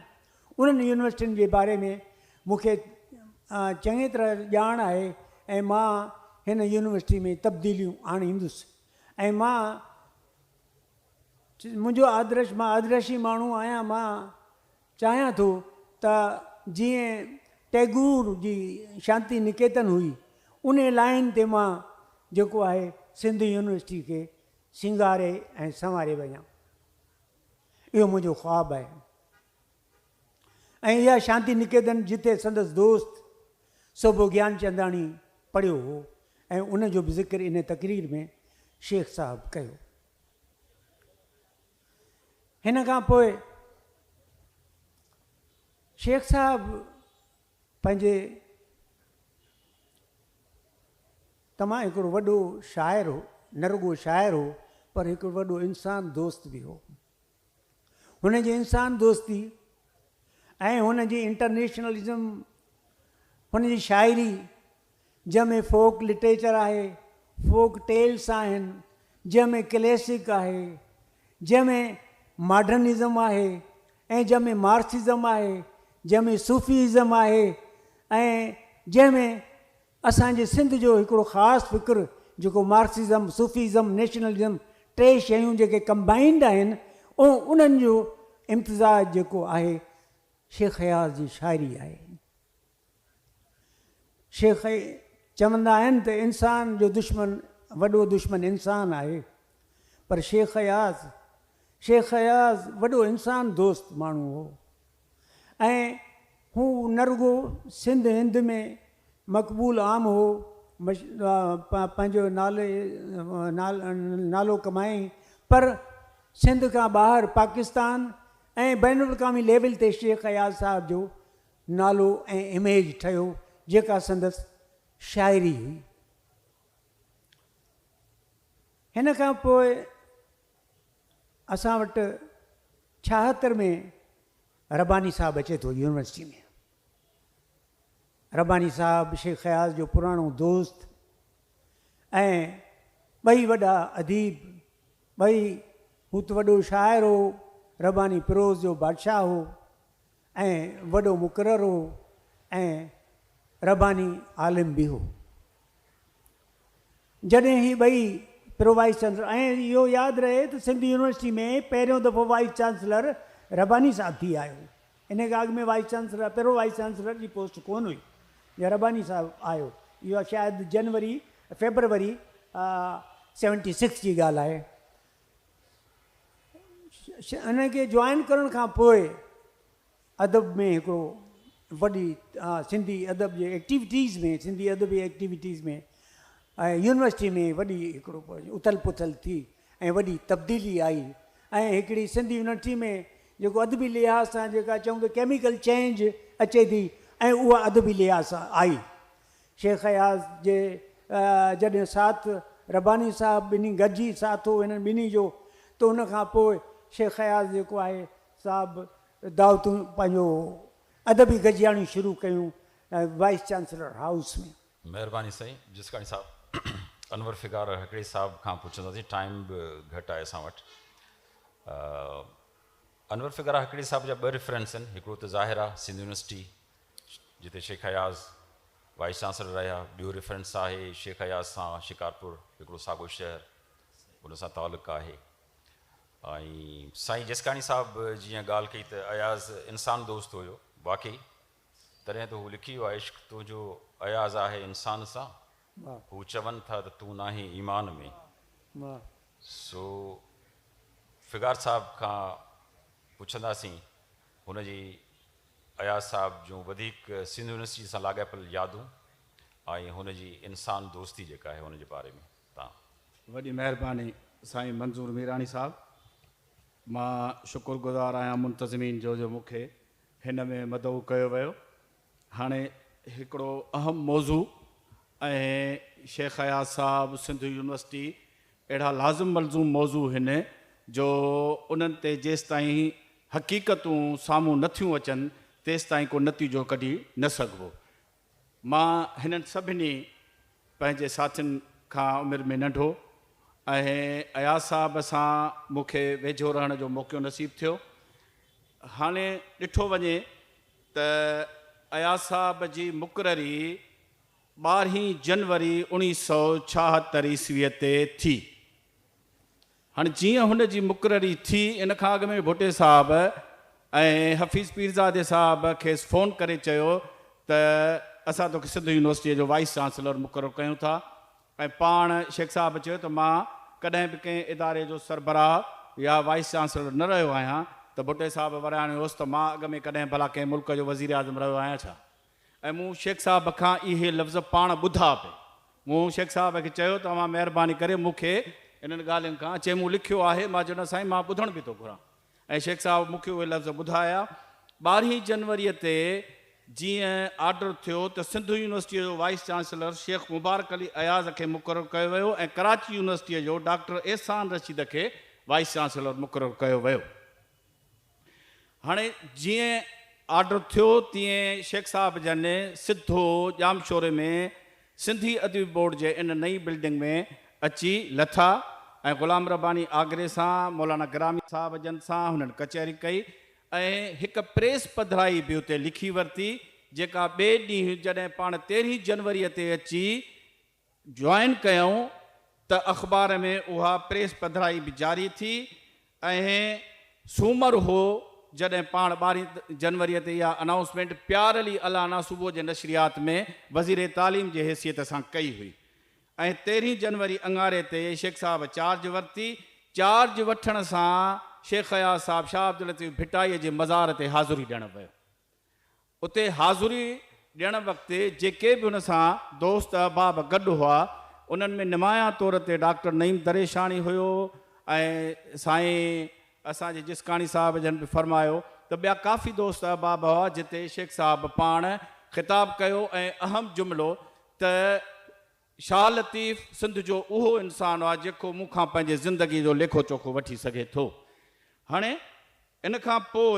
انهن يونيورسٽين جي باري ۾ مون کي چڱي طرح ڄاڻ آهي ۽ مان هن يونيورسٽي ۾ تبديليون آڻيندس ۽ مان منهنجو آدرش مان آدرشي ماڻهو آهيان مان چاهيان ٿو ته جيئن ٽئگور جي شانتي نڪيتن هئي انهي لائين تي مان جيڪو آهي سنڌ يونيورسٽي کي سينگاري ۽ سنواري وڃان. اهو منهنجو خواب آهي ۽ اها شانتي نڪيتن جتي سندس دوست صوڀو گيان چنداڻي پڙهيو هو ۽ ان جو به ذڪر ان تقرير ۾ شيخ صاحب ڪيو. هن کان پوء شيخ صاحب پنهنجي تمام هڪڙو وڏو شاعر هو، نه رڳو شاعر هو پر هڪڙو وڏو انسان دوست به هو. هن جي انسان دوستي ۽ هن جي انٽرنيشنلزم، هن جي شاعري جنهن ۾ فوڪ لٽريچر آهي، فوڪ ٽيلس آهن، جنهن ۾ ڪليسڪ آهي، جنهن ۾ ماڊرنزم آهي ۽ جنهن ۾ مارڪسزم آهي، جنهن ۾ صوفي ازم آهي ۽ جنهن ۾ اسان جي سنڌ جو هڪڙو خاص فڪر جيڪو مارڪسزم، صوفي ازم، نيشنلزم ٽي شيون جيڪي ڪمبائنڊ آهن ۽ انهن جو امتزاج جيڪو آهي شيخ اياز جي شاعري آهي. شيخ چوندا آهن ته انسان جو دشمن وڏو دشمن انسان آهي پر شيخ اياز شيخ اياز وڏو انسان دوست ماڻهو هو ۽ هو نه رڳو سنڌ هند ۾ مقبول عام هو پنهنجو نالو ڪمايائين پر سنڌ کان ٻاهر پاڪستان ۽ بين الاقوامي ليول تي شيخ اياز صاحب جو نالو ۽ اميج ٺهيو جيڪا سندس شاعري هئي. هن کان پوء اسان وٽ ڇاهتر ۾ رباني صاحب اچي ٿو يونيورسٽي ۾. رباني صاحب شيخ اياز جو پراڻو دوست ۽ ٻئي وڏا اديب ٻئي هوت وڏو شاعر هو رباني پروز جو بادشاهه هو. ۽ وڏو مقرر هو ۽ رباني عالم به هو. جڏهن هي ٻئي پرووائيس چانسلر ۽ اهو ياد رهي ته سنڌ يونيورسٽي ۾ پهريون دفعو وائيس چانسلر رباني صاحب ٿي آيو. ان کان اڳ ۾ وائيس چانسلر پرووائيس چانسلر جي پوسٽ ڪونه هئي جنهن رباني صاحب آيو. اها شايد جنوري فيبروري سيونٽي سڪس جي ڳالهه آهي. انهن کي جوائن ڪرڻ کان پوء ادب ۾ هڪڙو وڏي سنڌي ادب جي ايڪٽيوٽيز ۾ سنڌي ادبي ايڪٽيوٽيز ۾ ۽ يونيورسٽي ۾ وڏي هڪڙو اٿل پٿل ٿي ۽ وڏي تبديلي آئي ۽ هڪڙي سنڌي يونيورسٽي ۾ جيڪو ادبي لحاظ سان جيڪا چئون ته ڪيميڪل چينج اچي ٿي ۽ اها ادبي لحاظ سان آئي شيخ اياز جي جڏهن ساٿ رباني صاحب ٻنهي گڏجي ساٿ هو هنن ٻنهي جو ته ان کان پوء شيخ اياز جيڪو آهي صاحب دعوتون پنهنجو ادبي گڏجاڻيون شروع ڪيون وائيس چانسلر هائوس ۾. مهرباني سائين جسڪاڻي صاحب انور فگار هڪڙي صاحب کان پڇنداسين ٽائيم به گهٽ آهي اسان وٽ انور فگار هڪڙي صاحب جا ٻه ريفرنس آهن هڪڙو ته ظاهر آهي سنڌ يونيورسٽي جتي شيخ اياز وائيس چانسلر رهيا. ٻيو ريفرنس آهي شيخ اياز سان شڪارپور هڪڙو ساڳو شهر ان سان تعلق آهي ۽ سائين جسڪاڻي صاحب جيئن ڳالهه ڪئي ته اياز انسان دوست هيو واقعي تڏهن ته هو لکي ويو عشق تنهنجو اياز آهي انسان سان هو چون ٿا ته تون ناهين ايمان ۾ سو فگار صاحب کان پڇنداسين هن جي اياز صاحب جون وڌيڪ سنڌ يونيورسٽيء سان لاڳاپيل يادون ۽ هن جي انسان دوستي جيڪا آهي ان جي باري ۾ تان. وڏي مهرباني سائين منظور ميراڻي صاحب. مان شڪر گذار آهيان منتظمين جو جو مون کي هن ۾ مدعو ڪيو ويو هاڻي هڪڙو اهم موضوع ۽ شيخ اياز صاحب سنڌو يونيورسٽي اهڙا لازم ملزوم موضوع هن جو انهن تي جيستائين حقيقتون سامهون نه ٿيون اچن تيستائين ڪو نتيجو ڪڍي نه سگهبو مان هنن سڀني پنهنجي ساٿين کان عمر ۾ ننڍو ۽ اياز صاحب سان مون کي ويجهو رهڻ جو موقعو نصيب ٿيو هاڻي ڏٺو وڃي ته اياز صاحب جي مقرري ٻارهين جنوري اوڻيهه سؤ ڇاهتر عيسويء تي ٿي. هاڻ جيئن هن جي مقرري ٿي، ان کان اڳ ۾ ڀٽي صاحب ۽ حفيظ پيرزادي صاحب کيس فون ڪري چيو ته اسان توکي سنڌ يونيورسٽيء جو وائيس چانسلر مقرر ڪيون ٿا. ۽ پاڻ شيخ صاحب چيو ته مان ڪڏهن به ڪنهن اداري جو سربراهه يا وائيس چانسلر نه رهيو آهيان ته ڀٽي صاحب ورياڻيو هوس ته مان اڳ ۾ ڪڏهن ڀلا ڪنهن ملڪ جو وزيراعظم رهيو آهيان ڇا؟ ۽ مون شيخ صاحب کان اهي لفظ پاڻ ٻڌا به مون شيخ صاحب کي چيو ته اوهان مهرباني ڪري مون کي انهن ڳالهين کان چي مون لکيو آهي مان چيو نه سائين مان ٻڌڻ به ٿو گهران ۽ شيخ صاحب مون کي اهي لفظ ٻڌايا. ٻارهين جنوريء تي جيئن آرڊر ٿيو ته سنڌ يونيورسٽيء جو وائيس چانسلر شيخ مبارڪ علي اياز کي مقرر ڪيو ويو ۽ ڪراچي يونيورسٽيء جو ڊاڪٽر احسان رشيد کي وائيس چانسلر مقرر ڪيو ويو. هاڻي جيئن آرڊر ٿيو تيئن شيخ صاحب جن سڌو ڄامشوري ۾ سنڌي ادبي بورڊ جي ان نئين بلڊنگ ۾ اچي لٿا ۽ غلام رباني آگري سان مولانا گرامي صاحب جن سان هنن ڪچهري ڪئي ۽ هڪ پريس پڌرائي به اتي لکي ورتي جيڪا ٻئي ڏينهن جڏهن پاڻ تيرهين جنوري تي اچي جوائن ڪيائون ته اخبار ۾ اها پريس پڌرائي به جاري ٿي اهي سومر هو جڏهن پاڻ ٻارهين جنوري تي اها انائونسمينٽ پيار علي الانا صبح جي نشريات ۾ وزير تعليم جي حيثيت سان ڪئي هئي ۽ تيرهين جنوري اڱاري تي شيخ صاحب چارج ورتي، چارج وٺڻ سان شيخ اياز صاحب شاهه عبداللطيف ڀٽائي جي مزار تي حاضري ڏيڻ ويو اتي حاضري ڏيڻ وقت جيڪي به هن سان دوست احباب گڏ هئا، انهن ۾ نمايان طور تي ڊاڪٽر نعيم دريشاڻي هيو ۽ سائين اسان جي جسڪاڻي صاحب جن به فرمايو ته ٻيا ڪافي دوست احباب هئا جتي شيخ صاحب پاڻ خطاب ڪيو ۽ اهم جملو ته شاهه لطيف سنڌ جو اهو انسان آ جيڪو مون کان پنهنجي زندگي جو ليکو چوکو وٺي سگهي ٿو هاڻي ان کان پوء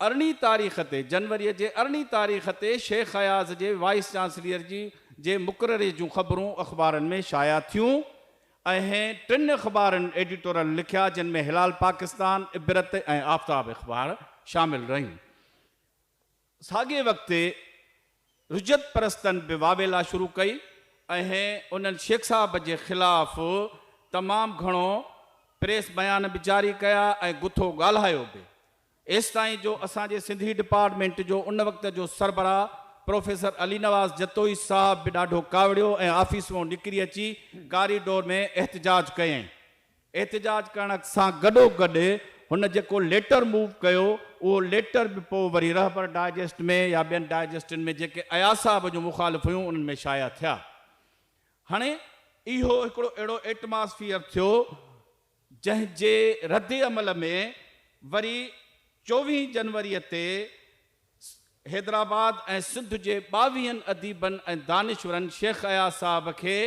ارڙهين تاريخ تي، جنوريء جي ارڙهين تاريخ تي شيخ اياز جي وائيس چانسليئر جي جي مقرري جون خبرون اخبارن ۾ شايع ٿيون ۽ ٽن اخبارن ايڊيٽورل لکيا جن ۾ هلال پاڪستان، عبرت ۽ آفتاب اخبار شامل رهيون. ساڳئي وقت تي رجعت پرستن به واويلا شروع ڪئي ۽ انهن شيخ صاحب جي خلاف تمام گهڻو پريس بيان به جاري ڪيا ۽ گٿو ڳالهايو به. ايستائين جو اسان جي سنڌي ڊپارٽمينٽ جو ان وقت جو سربراهه پروفيسر علي نواز جتوئي صاحب به ڏاڍو ڪاوڙيو ۽ آفيس مئن نڪري اچي ڪاري ڊور ۾ احتجاج ڪيائين. احتجاج ڪرڻ سان گڏو گڏ هن جيڪو ليٽر موو ڪيو اهو ليٽر به پوء وري رهبر ڊائجسٽ ۾ يا ٻين ڊائجسٽن ۾ جيڪي اياز صاحب جون مخالف هيون انهن ۾ شايع ٿيا. هاڻي اهو هڪڙو اهڙو ايٽماسفيئر ٿيو جنهن جي ردعمل ۾ وري چوويهين جنوري تي حيدرآباد ۽ سنڌ جي ٻاويهن اديبن ۽ دانشورن شيخ اياز صاحب کي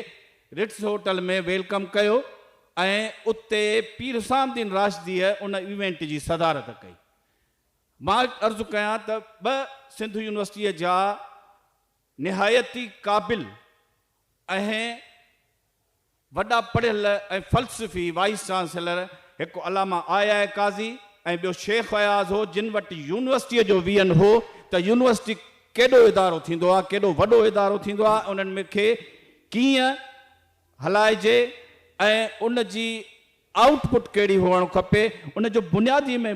رٽز هوٽل ۾ ويلڪم ڪيو ۽ اتي پير حسام الدين راشديء ان ايونٽ جي صدارت ڪئي. مان عرض ڪيان ته ٻه سنڌ يونيورسٽيء جا نهايت ئي قابل ۽ وڏا پڙهيل ۽ فلسفي وائيس چانسيلر هڪ علامه آء آء قاضي ۽ ٻيو شيخ اياز هو جن وٽ يونيورسٽيء جو ويهن هو ته يونيورسٽي ڪيڏو ادارو ٿيندو آ ڪيڏو وڏو ادارو ٿيندو آ انهن کي ڪيئن هلائجي ۽ ان جي آئوٽ پٽ ڪهڙي هئڻ کپي ان جو بنيادي ۾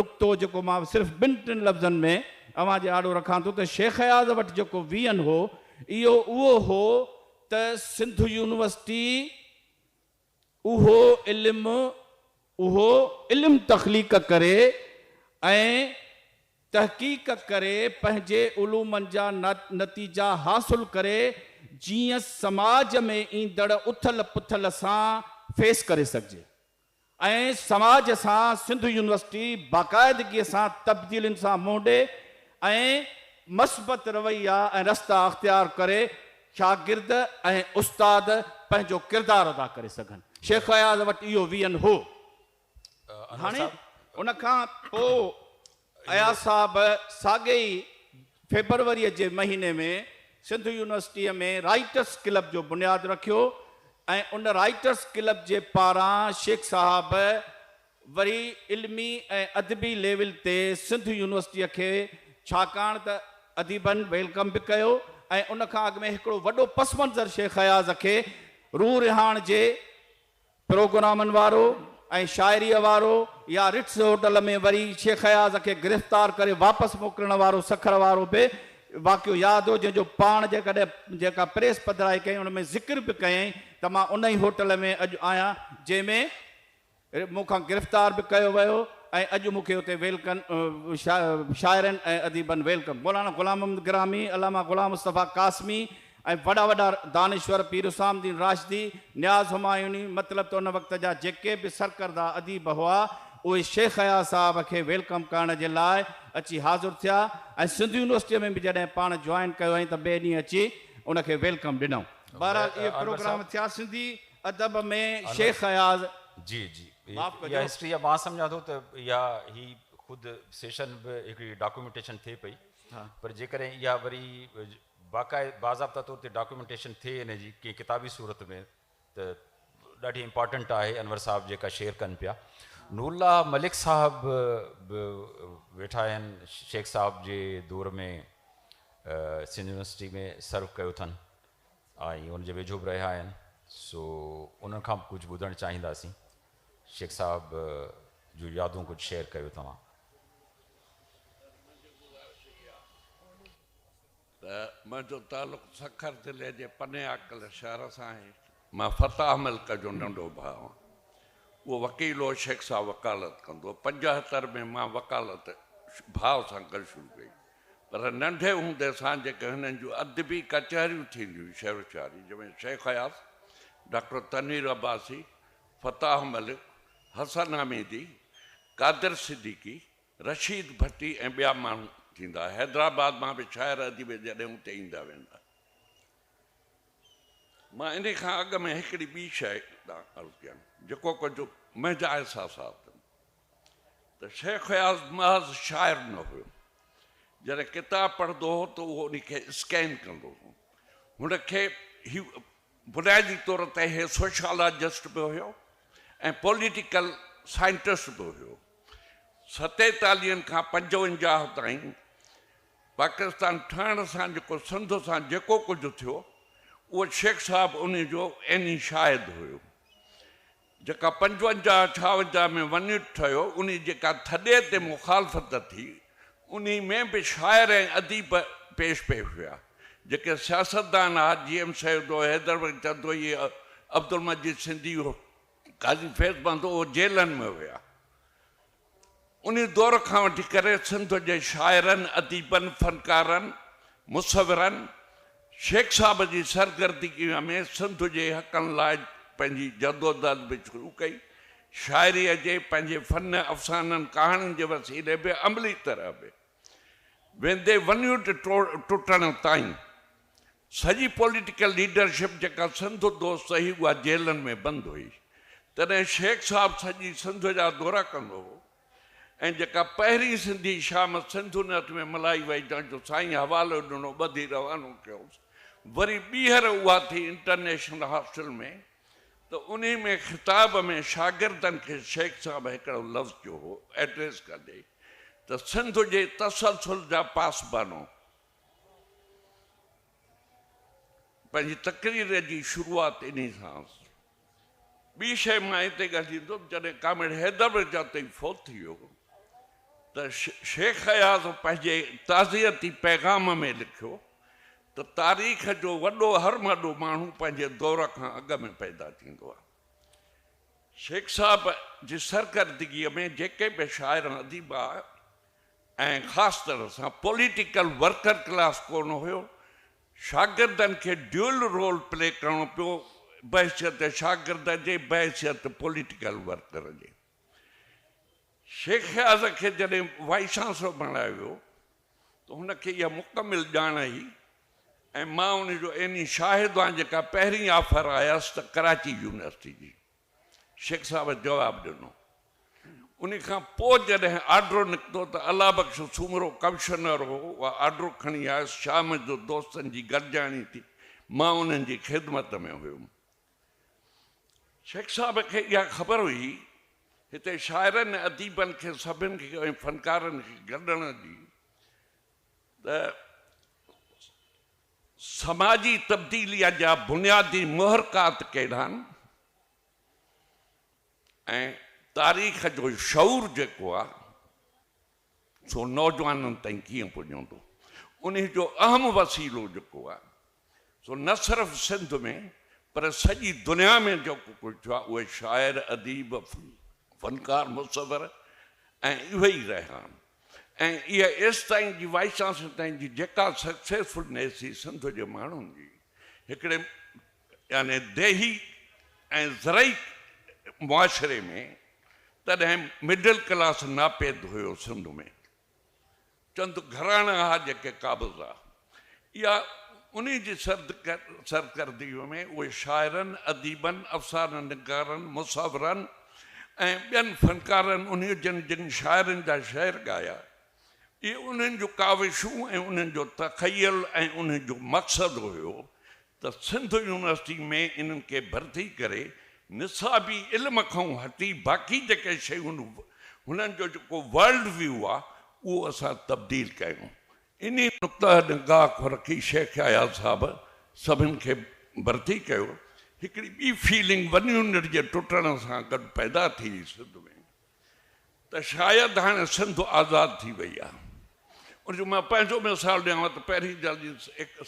نقطو جيڪو مان صرف ٻن ٽن لفظن ۾ اوهان جي آڏو رکان ٿو ته شيخ اياز وٽ جيڪو ويئن هو اهو اهو هو ته سنڌ يونيورسٽي اهو علم اهو علم تخليق ڪري ۽ تحقيق ڪري پنهنجي علومن جا نتيجا حاصل ڪري جيئن سماج ۾ ايندڙ اٿل پٿل سان فيس ڪري سگهجي ۽ سماج سان سنڌ يونيورسٽي باقاعدگي سان تبديلين سان منهن ڏي ۽ مثبت رويا ۽ رستا اختيار ڪري شاگرد ۽ استاد پنهنجو ڪردار ادا ڪري سگهن شيخ اياز وٽ اهو ويزن هو. هاڻي ان کان پوء اياز صاحب ساڳئي ئي فيبروريء جي مهيني ۾ سنڌ يونيورسٽيء ۾ رائيٽرس ڪلب جو بنياد رکيو ۽ ان رائيٽرس ڪلب جي پاران شيخ صاحب وري علمي ۽ ادبي ليول تي سنڌ يونيورسٽيء کي ڇاڪاڻ ته اديبن ويلڪم به ڪيو ۽ ان کان اڳ ۾ هڪڙو وڏو پس منظر شيخ اياز کي روح رهاڻ جي پروگرامن وارو ۽ شاعريء وارو يا رٽس هوٽل ۾ وري شيخ اياز کي گرفتار ڪري واپس موڪلڻ وارو سکر وارو به واقعو ياد هو جنهن جو پاڻ جيڪڏهن جيڪا پريس پڌرائي ڪيائين ان ۾ ذڪر به ڪيائين ته مان ان ئي هوٽل ۾ اڄ آهيان جنهن ۾ مون کان گرفتار به ڪيو ويو ۽ اڄ مون کي اتي ويلڪن شاعرن ۽ اديبن ويلڪم مولانا غلام محمد گرامي، علامه غلام مصطفيٰ قاسمي، ۽ وڏا وڏا دانشور پير حسام الدين راشدي، نياز همايوني، مطلب ته ان وقت جا جيڪي به سرڪرده اديب هئا، اهي شيخ اياز صاحب کي ويلڪم ڪرڻ جي لاء اچي حاضر ٿيا ۽ سنڌ يونيورسٽيء ۾ به جڏهن پاڻ جوائن ڪيو هئائين ته ٻئي ڏينهن اچي ان کي ويلڪم ڏنائون. بهرحال اهي پروگرام ٿيا سنڌي ادب ۾ شيخ اياز. جي جي معاف ڪجو. اها هسٽري آهي مان سمجهان ٿو ته اها هي خود سيشن به هڪڙي ڊاڪومينٽيشن ٿئي پئي پر جيڪڏهن اها وري باقاعده باضابطه طور تي ڊاڪيومينٽيشن ٿئي ان جي ڪنهن ڪتابي صورت ۾ ته ڏاڍي امپارٽنٽ آهي انور صاحب جيڪا شيئر ڪن پيا نور الله ملڪ صاحب به ويٺا آهن شيخ صاحب جي دور ۾ سنڌ يونيورسٽي ۾ سرو ڪيو اٿن ۽ ان جي ويجهو به رهيا آهن سو انهن کان به ڪجهه ٻڌڻ چاهينداسين شيخ صاحب جو يادون ڪجهه شيئر ڪيو توهان ته منهنجو تعلق سکر ضلعي جي پني عاقل شهر سان آهي. مان فتاح ملڪ جو ننڍو ڀاء آهيان. اهو وڪيل هو، شيخ صاحب وڪالت ڪندو هو. پنجهتر ۾ مان وڪالت ڀاء سان گڏ شروع ڪئي. پر ننڍي هوندي سان جيڪي هنن جون ادبي ڪچهريون ٿينديون هيون شعر و شاعري جن ۾ شيخ اياز، ڊاڪٽر تنوير عباسي، فتاح ملڪ، حسن حميدي، قادر صديقي، رشيد ڀٽي ۽ ٻيا ماڻهو ٿيندا. حيدرآباد مان به شاعر اديب جڏهن اتي ايندا ويندا. مان انهي کان اڳ ۾ هڪڙي ٻي شيء ڏانهن عرض ڪيان، جيڪو ڪجهه منهنجا احساسات آهن ته شيخ اياز محض شاعر نه هيو. جڏهن ڪتاب پڙهندو هو ته اهو انهي کي اسڪين ڪندو هو. هن کي هي بنيادي طور تي هي سوشالاجسٽ به هيو ۽ پوليٽيڪل سائنٽسٽ به هيو. ستيتاليهن کان پنجونجاهه تائين پاڪستان ٺهڻ سان جيڪو سنڌ سان جيڪو ڪجهه ٿيو اهو شيخ صاحب انهي جو عيني شاهد هيو. جيڪا پنجونجاهه ڇاونجاهه ۾ ونيٽ ٺهيو، انهي جيڪا ٿڏي تي مخالفت ٿي، انهي ۾ به شاعر ۽ اديب پيش پئي هيا، جيڪي سياستدان ها، جي ايم سيد هو، حيدر بخش جتوئي، عبدالمجيد سنڌي هو، قاضي فيض بند هو، جيلن ۾ هيا. ان دور کان وٺي ڪري سنڌ جي شاعرن، اديبن، فنڪارن، مصورن شيخ صاحب جي سرگردگيء ۾ سنڌ جي حقن لاء پنهنجي جدوجھد به شروع ڪئي. شاعريء جي پنهنجي فن، افسانن، ڪهاڻين جي وسيلي به عملي طرح به. ويندي ونيوٽ ٽٽڻ تائين سڄي پوليٽيڪل ليڊرشپ جيڪا سنڌ دوست هئي اها جيلن ۾ بند هئي تڏهن شيخ صاحب سڄي سنڌ جا دورا ڪندو هو ۽ جيڪا پهرين سنڌي شام سنڌ نيوٽ ۾ ملهائي وئي جنهن جو سائين حوالو ڏنو ٻڌي روانو ڪيوس وري ٻيهر اها ٿي انٽرنيشنل هاسٽل ۾ ته انهي ۾ خطاب ۾ شاگردن کي شيخ صاحب هڪڙو لفظ چيو هو ايڊريس ڪندي ته سنڌ جي تسلسل جا پاسبانو پنهنجي تقرير جي شروعات انهي سان ٻي شيء مان هتي ڳالهيندم جڏهن ڪامريڊ حيدر مرزا تئي فوت ٿي ويو ته شيخ اياز پنهنجي تعزيتي پيغام ۾ لکيو ته تاريخ جو وڏو هرمهڏو ماڻهو پنهنجي دور کان اڳ ۾ پيدا ٿيندو آهي. شيخ صاحب جي سرڪردگيء ۾ جيڪي به شاعر ۽ اديب آيا ۽ خاص طرح سان پوليٽيڪل ورڪر ڪلاس ڪونه هيو، شاگردن کي ڊيول رول پلي ڪرڻو پيو، بحيثيت شاگرد جي، بحيثيت پوليٽيڪل ورڪر جي. شيخ اياز کي جڏهن وائيس چانسلر بڻايو ويو ته هن کي اها مڪمل ڄاڻ هئي ۽ مان ان جو عيني شاهد آهيان جيڪا پهرين آفر آيس ته ڪراچي يونيورسٽي جي شيخ صاحب جواب ڏنو ان کان پوء جڏهن آرڊر نڪتو ته الله بخش سومرو ڪمشنر هو اها آرڊر کڻي آيس شام جو دوستن جي گڏجاڻي ٿي مان انهن جي خدمت ۾ هيم شيخ صاحب کي اها خبر هئي، هتي شاعرن ۽ اديبن کي سڀن کي ۽ فنڪارن کي گڏڻ جي ته سماجي تبديليء جا بنيادي محرڪات ڪهڙا آهن ۽ تاريخ جو شعور جيڪو آهي، سو نوجوانن تائين ڪيئن پڄندو؟ انهي جو اهم وسيلو جيڪو آهي سو نه صرف سنڌ ۾ پر سڄي دنيا ۾ جيڪو ڪجهه ٿيو آهي اهي شاعر، اديب، فنڪار، مصور ۽ اهي ئي رهيا آهن ۽ اها ايستائين جي وائسان سيتائين جي جيڪا سڪسيسفل نيسي سنڌ جي ماڻهن جي هڪڙي يعني ديهي ۽ زرعي معاشري ۾ تڏهن مڊل ڪلاس ناپيد هيو سنڌ ۾ چند گهراڻا ها جيڪي قابض ها يا انهي جي سرڪردي ۾ اهي شاعرن اديبن افسانه نگارن مصورن ۽ ٻين فنڪارن انهي جن جن شاعرن جا شعر ڳايا اهي انهن جون ڪاوشون ۽ انهن جو تخيل ۽ انهن جو مقصد هيو ته سنڌ يونيورسٽي ۾ انهن کي ڀرتي ڪري نصابي علم کان هٽي باقي جيڪي شيون هنن جو جيڪو ورلڊ ويو آ اهو اسان تبديل ڪيون انهي نقطه نگاهه کان رکي شيخ اياز صاحب سڀن کي ڀرتي ڪيو هڪڙي ٻي فيلنگ ون يونٽ جي ٽٽڻ سان گڏ پيدا ٿي سنڌ ۾ ته شايد هاڻي سنڌ آزاد ٿي وئي آهي. ان جو مان پنهنجو مثال ڏيانو ته پهرين جلدي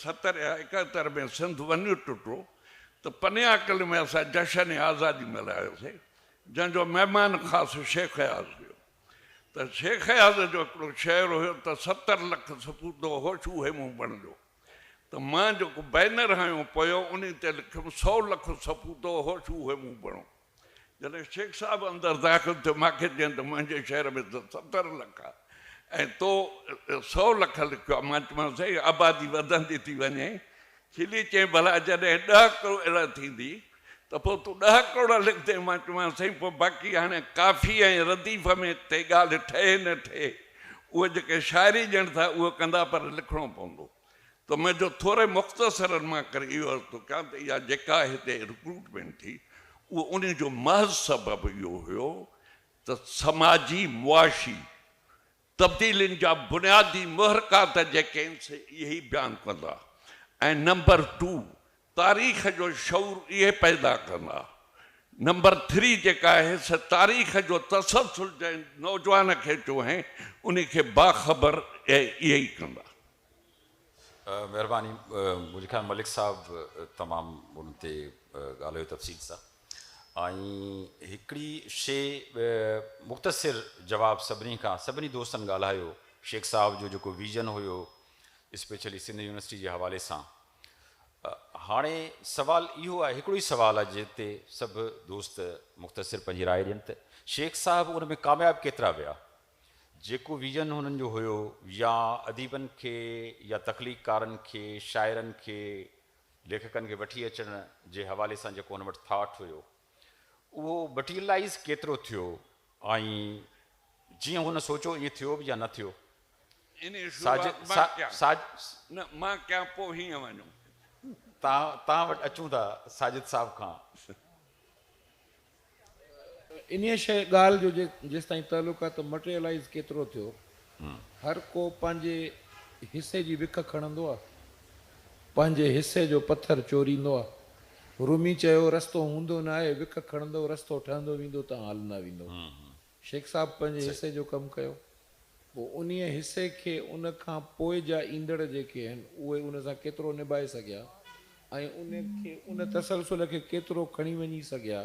ستر يا ايڪهتر ۾ سنڌ ونيو ٽٽو ته پنيا قلعي ۾ اسان جشن آزادي ملهايو سي جنهن جو مهمان خاص شيخ اياز هيو ته شيخ اياز جو هڪڙو شعر هيو ته ستر لک سپوتو هوش اهي مون بڻجو ته مان جيڪو بينر هنيو پويو انهي تي لکيم سو لک سپوتو هوش اهي مون بڻو. جڏهن شيخ صاحب اندر داخل ٿيو، مان کي چيائين ته منهنجي شهر ۾ ته ستر لک آ ۽ تو سؤ لک لکيو آ. مان چيومانس سائين آبادي وڌندي ٿي وڃي. کلي چيائين ڀلا جڏهن ڏهه ڪروڙ ٿيندي ته پوء تون ڏهه ڪروڙ لکندين. مان چيومانس سائين پوء باقي هاڻي ڪافي ۽ رديف ۾ تي ڳالهه ٺهي نه ٺهي اهو جيڪي شاعري ڄڻ ٿا اهو ڪندا پر لکڻو پوندو. ته ۾ جو ٿوري مختصرن مان ڪري اهو عرض ٿو ڪيان ته اها جيڪا هتي رڪروٽمينٽ ٿي اهو انهي جو محض سبب اهو هيو ته سماجي معاشي تبديلين جا بنيادي محرڪات جيڪي آهن سي اهي ئي بيان ڪندا ۽ نمبر ٽو تاريخ جو شعور اهي پيدا ڪندا. نمبر ٿري جيڪا آهي سا تاريخ جو تسلسل جنهن نوجوان کي چونهين انهي کي باخبر اهي ئي ڪندا. مهرباني منهنجي خيال ملڪ صاحب تمام ان تي ڳالهايو تفصيل سان ۽ هڪڙي شي مختصر جواب سڀني کان سڀني دوستن ڳالهايو شيخ صاحب جو جيڪو ويزن هيو اسپيشلي سنڌ يونيورسٽي جي حوالي سان هاڻي سوال اهو آهي، هڪڙو ئي سوال آهي جنهن تي سڀ دوست مختصر پنهنجي راء ڏين ته شيخ صاحب ان ۾ ڪامياب ڪيترا ويا؟ جيڪو ويزن هنن جو هيو يا اديبن کي يا تخليقڪارن کي، شاعرن کي، ليکڪن کي وٺي اچڻ جي حوالي سان جيڪو هن وٽ ٿاٽ هيو، اهو بٽيلائيز ڪيترو ٿيو ۽ جيئن هن سوچيو ائين ٿيو به يا نه ٿيو؟ توهان وٽ اچون ٿا ساجد صاحب کان. انهيء شيء ڳالهه جو جيستائين تعلق آهي ته مٽيريلائيز ڪيترو ٿيو هر ڪو پنهنجي حصي جي وک کڻندو آ، پنهنجي حصي جو پٿر چوريندو آ. رومي چيو، رستو هوندو نه آهي، وک کڻندو، رستو ٺهندو ويندو تان هلندا ويندو. شيخ صاحب پنهنجي حصي جو ڪم ڪيو، پوء انهيء حصي کي ان کان پوء جا ايندڙ جيڪي آهن، اهي ان سان ڪيترو نباهي سگهيا ۽ ان کي ان تسلسل کي ڪيترو کڻي وڃي سگهيا،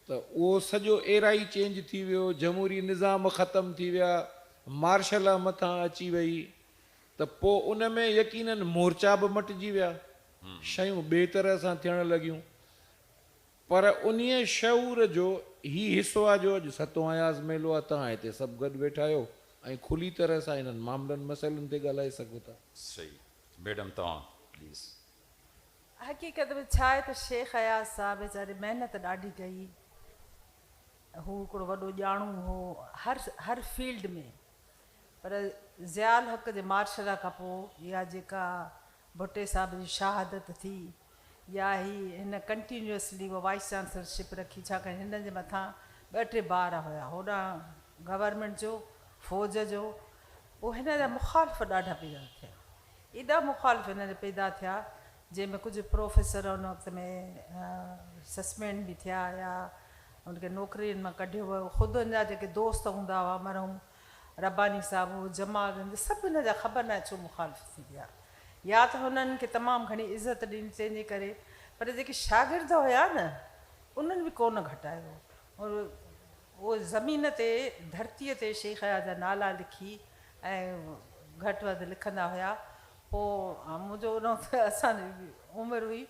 ته اهو سڄو ايرا ئي چينج ٿي ويو، جمهوري نظام ختم ٿي ويا، مارشل لا مٿان اچي وئي ته پوء ان ۾ يقيناً مورچا به مٽجي ويا، شيون ٻئي طرح سان ٿيڻ لڳيون. پر انهيء شعور جو هي حصو آهي جو اڄ ستون اياز ميلو آهي، توهان هتي سڀ گڏ ويٺا آهيو ۽ کلي طرح سان انهن معاملن مسئلن تي ڳالهائي سگهو ٿا. صحيح ميڊم توهان پليز. حقيقت ۾ ڇا آهي ته شيخ اياز صاحب ويچاري محنت ڏاڍي ڪئي. هو هڪڙو وڏو ڄاڻو هو هر هر فيلڊ ۾. پر ضياء الحق جي مارشلا کان پوء يا جيڪا ڀٽي صاحب جي شهادت ٿي يا هي هن ڪنٽينيوسلي اها وائيس چانسلر شپ رکي ڇا ڪري هن جي مٿان ٻه ٽي بار هيا هوڏانهن گورنمينٽ جو فوج جو پوء هن جا مخالف ڏاڍا پيدا ٿيا. ايڏا مخالف هن جا پيدا ٿيا جنهن ۾ ڪجهه پروفيسر ان وقت ۾ سسپينڊ به ٿيا يا ان کي نوڪرين مان ڪڍيو ويو خود ان جا جيڪي دوست هوندا هئا مرحوم رباني صاحب هو جمال گنج سڀ هن جا خبر ناهي ڇو مخالف ٿي ويا يا ته هنن کي تمام گهڻي عزت ڏني تنهن جي ڪري پر جيڪي شاگرد هيا نه انهن به ڪونه گهٽايو هو زمين تي ڌرتيء تي شيخياء جا نالا لکي ۽ گهٽ وڌ لکندا هيا. پوء منهنجو انهو ته اسان جي عمر هئي.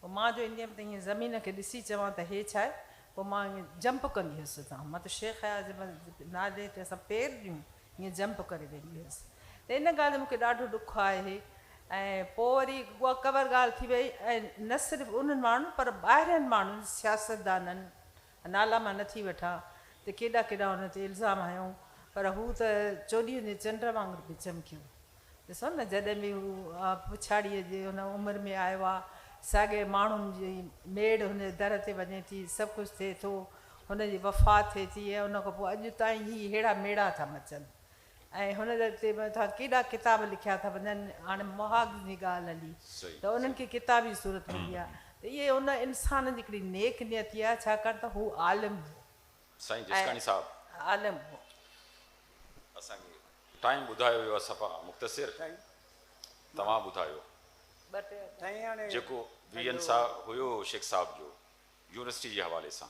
پوء مان جو ايندي هيم ته ائين زمين کي ڏسي چوان ته هي ڇا آهي؟ پوء مان ائين جمپ ڪندي هيس اتان. مطلب شيخياء جي نالي تي اسان پير ڏيون ائين جمپ ڪري ويندي هيس. ته ان ڳالهه جو مون کي ڏاڍو ڏک آهي. ۽ پوء وري اها ڪور ڳالهه ٿي وئي ۽ نه صرف انهن ماڻهن پر ٻاهرين ماڻهن سياستدانن، نالا مان نٿي وٺان ته ڪيڏا ڪيڏا هن تي الزام هنيائون پر هو ته چوڏهين جي چنڊ وانگر پئي چمڪيو. ڏسو نه جڏهن به هو پڇاڙيء جي هن عمر ۾ آيو آ، ساڳئي ماڻهن جي ميڙ هن جي در تي وڃي ٿي، سڀ ڪجهه ٿئي ٿو، هن جي وفات ٿئي ٿي ۽ ان کان پوء اڄ تائين هي ههڙا ميڙا ٿا مچن. ۽ هن تي به ٿا ڪيڏا ڪتاب لکيا ٿا وڃن هاڻي مهاڳ جي ڳالهه هلي ته انهن کي ڪتابي صورت ملي آ ته اهي ان انسان جي هڪڙي نيڪ نيتي آ ڇاڪاڻ ته هو عالم هو سائين جسڪاڻي صاحب عالم هو. اسان کي ٽائيم ٻڌايو ويو آ صفا مختصر توهان ٻڌايو جيڪو ويهن سال هيو شيخ صاحب جو يونيورسٽي جي حوالي سان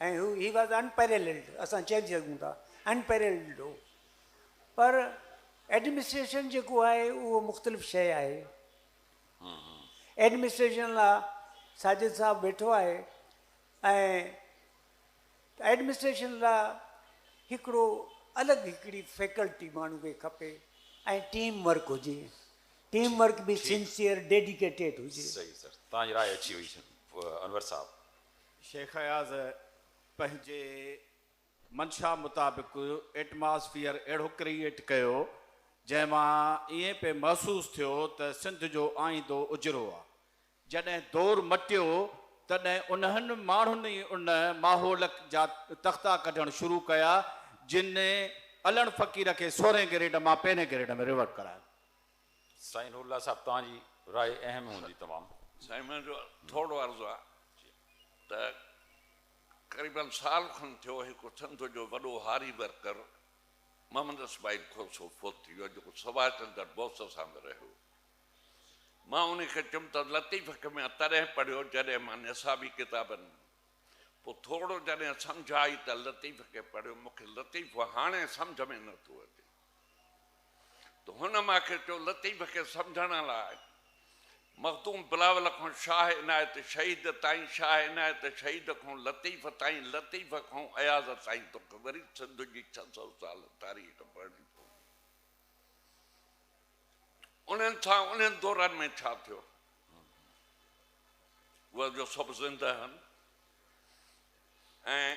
۽ هو He was unparalleled اسان چئي سگهون ٿا unparalleled هو پر Administration جيڪو آهي اهو مختلف شيء آهي Administration لا ساجد صاحب ويٺو آهي ۽ Administration لا هڪڙو الڳ هڪڙي فيڪلٽي ماڻهو کي کپي ۽ ٽيم ورڪ هجي ٽيم ورڪ به سنسيئر ڊيڊيڪيٽيڊ هجي صحيح سر تان جي راء اچي وئي انور صاحب شيخ اياز پنهنجي منشا مطابق ايٽماسفيئر اهڙو ڪريئيٽ ڪيو، جنهن مان ائين پئي محسوس ٿيو ته سنڌ جو آئيندو اجرو آ. جڏهن دور مٽيو، تڏهن انهن ماڻهن ئي ان ماحول جا تختا ڪڍڻ شروع ڪيا، جن علڻ فقير کي سورهين گريڊ مان پهرين گريڊ ۾ ريورٽ ڪرايو. سائين نور الله صاحب توهان جي راء اهم هوندي تمام. سائين منهنجو ٿورڙو عرض آ ته قريباً سال کن ٿيو هڪ سنڌ جو وڏو هاري ورڪر محمد اسماعيل کوسو فوت ٿي ويو آ جيڪو سڀاش چندر بوس سان به رهيو مان انهي کي چيم ته لطيف کي مان تڏهن پڙهيو جڏهن مان نصابي ڪتابن پوء ٿورڙو جڏهن سمجهه آئي ته لطيف کي پڙهيو مون کي لطيف هاڻي سمجهه ۾ نه ٿو اچي ته هن مان کي چيو لطيف کي سمجهڻ لاء مخدوم بلاول کان شاهه عنايت شهيد تائين شاهه عنايت شهيد کان لطيف تائين لطيف کان اياز تائين توکي وري سنڌ جي ڇهه سؤ سال تاريخ پڙهڻي پوندي انهن سان انهن دورن ۾ ڇا ٿيو اهي جو سڀ زنده آهن ۽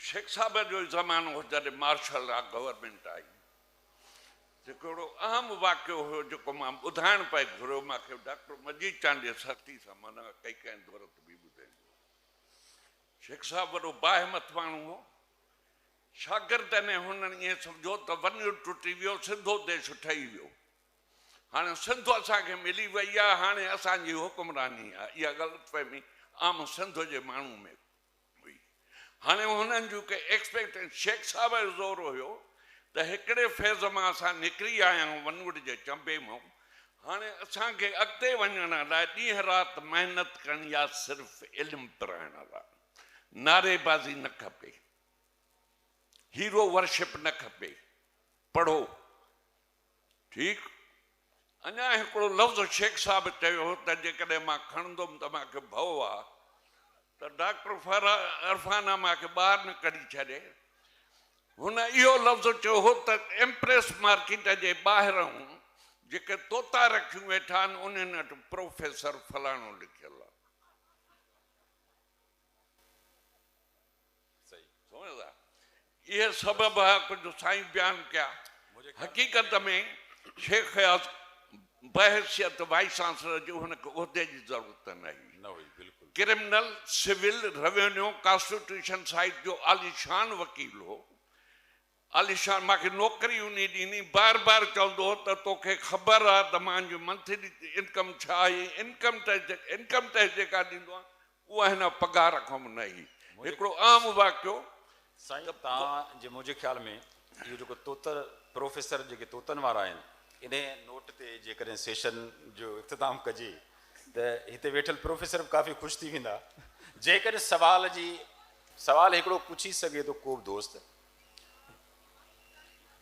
شيخ صاحب جو ئي زمانو هو جڏهن مارشل لا گورنمينٽ آئي. جيڪو اهڙو اهم واقعو هيو جيڪو مان ٻڌائڻ پئي گهريو مان کي ڊاڪٽر مجيد چانڊيي سختي سان منع ڪئي ڪنهن دورت به ٻڌين جو. شيخ صاحب وڏو باهمت ماڻهو هو. شاگردن ۽ هنن ائين سمجهو ته ونيو ٽٽي ويو سنڌو ديش ٺهي ويو. هاڻي سنڌ اسان کي ملي وئي آهي هاڻي اسان جي حڪمراني آهي اها غلط فهمي عام سنڌ جي ماڻهو ۾ هئي. هاڻي هنن جون ڪي ايڪسپيڪٽيشنس شيخ صاحب جو زور هيو ته هڪڙي فيز مان اسان نڪري آيا آهيون ونوٽ جي چنبي مان هاڻي اسان کي اڳتي وڃڻ لاء ڏينهن رات محنت ڪرڻي آهي صرف علم پرائڻ لاء نعري بازي نه کپي هيرو ورشپ نه کپي پڙهو ٺيڪ اڃا هڪڙو لفظ شيخ صاحب چيو هو ته جيڪڏهن مان کڻندم ته مان کي ڀؤ آ ته ڊاڪٽر فرحانا مان کي ٻاهر نه ڪڍي ڇڏي هن اهو لفظ چيو هو ته ايمپريس مارڪيٽ جي ٻاهرئون جيڪي طوطا رکيون ويٺا آهن انهن وٽ پروفيسر فلاڻو لکيل آ. اهي سڀ به ڪجهه سائين بيان ڪيا. حقيقت ۾ شيخ اياز بحيثيت وائيس چانسلر جي هن کي عهدي جي ضرورت نه هئي. Criminal, civil, revenue, constitution side جو عاليشان وڪيل هو. عاليشان مان کي نوڪري انهي ڏني بار بار چوندو هو ته تو کي خبر آ ته مان جو منٿلي انڪم ڇا آهي انڪم ٽيڪس انڪم ٽيڪس جيڪا ڏيندو آهيان اها هن پگهار کان به نه هي هڪڙو عام واقعو سائين توهان جي منهنجي خيال ۾ اهو جيڪو توتر پروفيسر جيڪي طوطن وارا آهن انهي نوٽ تي جيڪڏهن سيشن جو اختتام ڪجي ته هتي ويٺل پروفيسر به ڪافي خوش ٿي ويندا جيڪڏهن سوال جي سوال هڪڙو پڇي سگهي ٿو ڪوبه دوست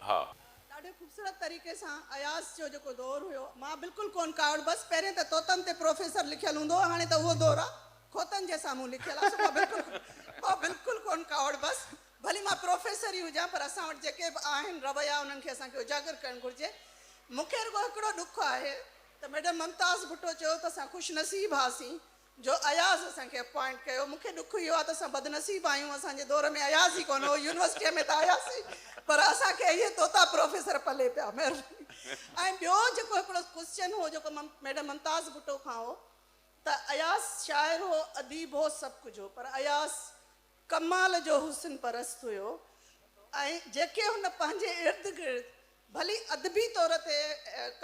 ها. ڏاڍي خوبصورت طريقي سان اياز جو جيڪو دور هيو مان بلڪل ڪون ڪاوڙ بس پهرين ته طوطن تي پروفيسر لکيل هوندو هو هاڻي ته اهو دور آ خوطن جي سامهون لکيل آ سو مان بلڪل مان بلڪل ڪون ڪاوڙ بس ڀلي مان پروفيسر ئي هجان پر اسان وٽ جيڪي به آهن رويا انهن کي اسان کي اجاگر ڪرڻ گهرجي مونکي رڳو هڪڙو ڏک آهي ته ميڊم ممتاز ڀٽو چيو ته اسان خوش نصيب هئاسين جو اياز اسان کي اپوائنٽ ڪيو مون کي ڏک اهو آهي ته اسان بدنصيب آهيون اسان جي دور ۾ اياز ئي ڪونه هو يونيورسٽيء ۾ ته آياسين پر اسان کي اهي طوطا پروفيسر پلي پيا مهرباني ۽ ٻيو جيڪو هڪڙو ڪوسچن هو جيڪو ميڊم ممتاز ڀٽو کان هو ته اياز شاعر هو اديب هو سڀ ڪجهه هو پر اياز ڪمال جو حسن پرست هيو ۽ جيڪي هن پنهنجي ارد گرد ڀلي ادبي طور تي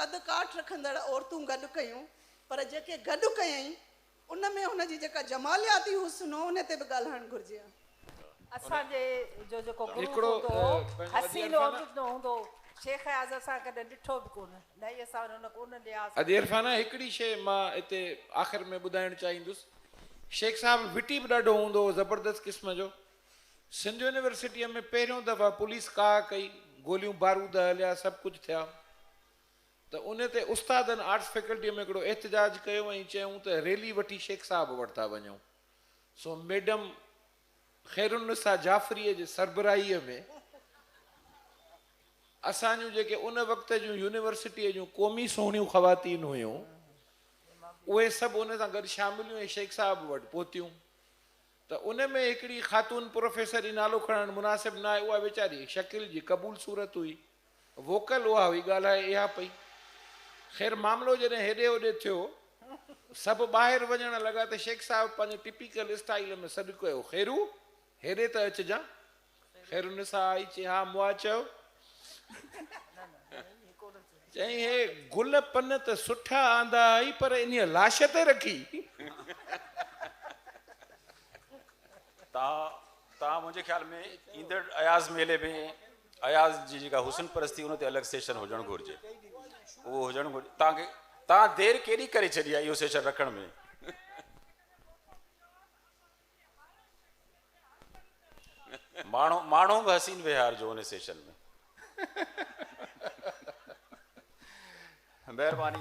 قد ڪاٺ رکندڙ عورتون گڏ ڪيون پر جيڪي گڏ ڪيائين ان ۾ هن جي جيڪا جمالياتي حسن هو ان تي به ڳالهائڻ گهرجي ها. اسان جي جو جيڪو گرو هوندو هو حسين عرجن هوندو هو شيخ اياز اسان ڪڏهن ڏٺو به ڪونه. اڄ عرفانه هڪڙي شيء مان اتي آخر ۾ ٻڌائڻ چاهيندس. شيخ صاحب وٽي به ڏاڍو هوندو هو زبردست قسم جو. سنڌ يونيورسٽيء ۾ پهريون دفعا پوليس ڪاهه ڪئي، گوليون بارود هليا، سڀ ڪجهه ٿيا ته ان تي استادن آرٽس فيڪلٽيء ۾ هڪڙو احتجاج ڪيو ۽ چيائون ته ريلي وٺي شيخ صاحب وٽ ٿا وڃون. سو ميڊم خيرالنساء جعفريء جي سربراهيء ۾ اسان جون جيڪي ان وقت جون يونيورسٽيء جون قومي سهڻيون خواتين هيون، اهي سڀ ان سان گڏ شامل هيون ۽ شيخ صاحب وٽ پهتيون ته ان ۾ هڪڙي خاتون پروفيسر جي نالو کڻڻ مناسب نه آهي، اها ويچاري هڪ شڪيل جي قبول صورت هئي. ووڪل اها هئي، ڳالهائي اها پئي. خير معاملو جڏهن هيڏي هوڏي ٿيو، سڀ ٻاهر وڃڻ لڳا ته شيخ صاحب پنهنجي ٽپيڪل اسٽائيل ۾ سڏ ڪيو، خيرو! هيڏي ته اچجان. خيرالنساء آئي چي، ها مئا چيو. چيائين، هي گل پن ته سٺا آندا هئائي پر انهيء لاش تي رکي. تان تان منهنجي خيال ۾ ايندڙ اياز ميلي ۾ اياز جي جيڪا حسن پرستي ان تي الڳ سيشن هجڻ گهرجي اهو هجڻ گهرجي تان تان دير ڪيڏي ڪري ڇڏي آهي اهو سيشن رکڻ ۾ ماڻهو ماڻهو به حسين وهار جو ان سيشن ۾ مهرباني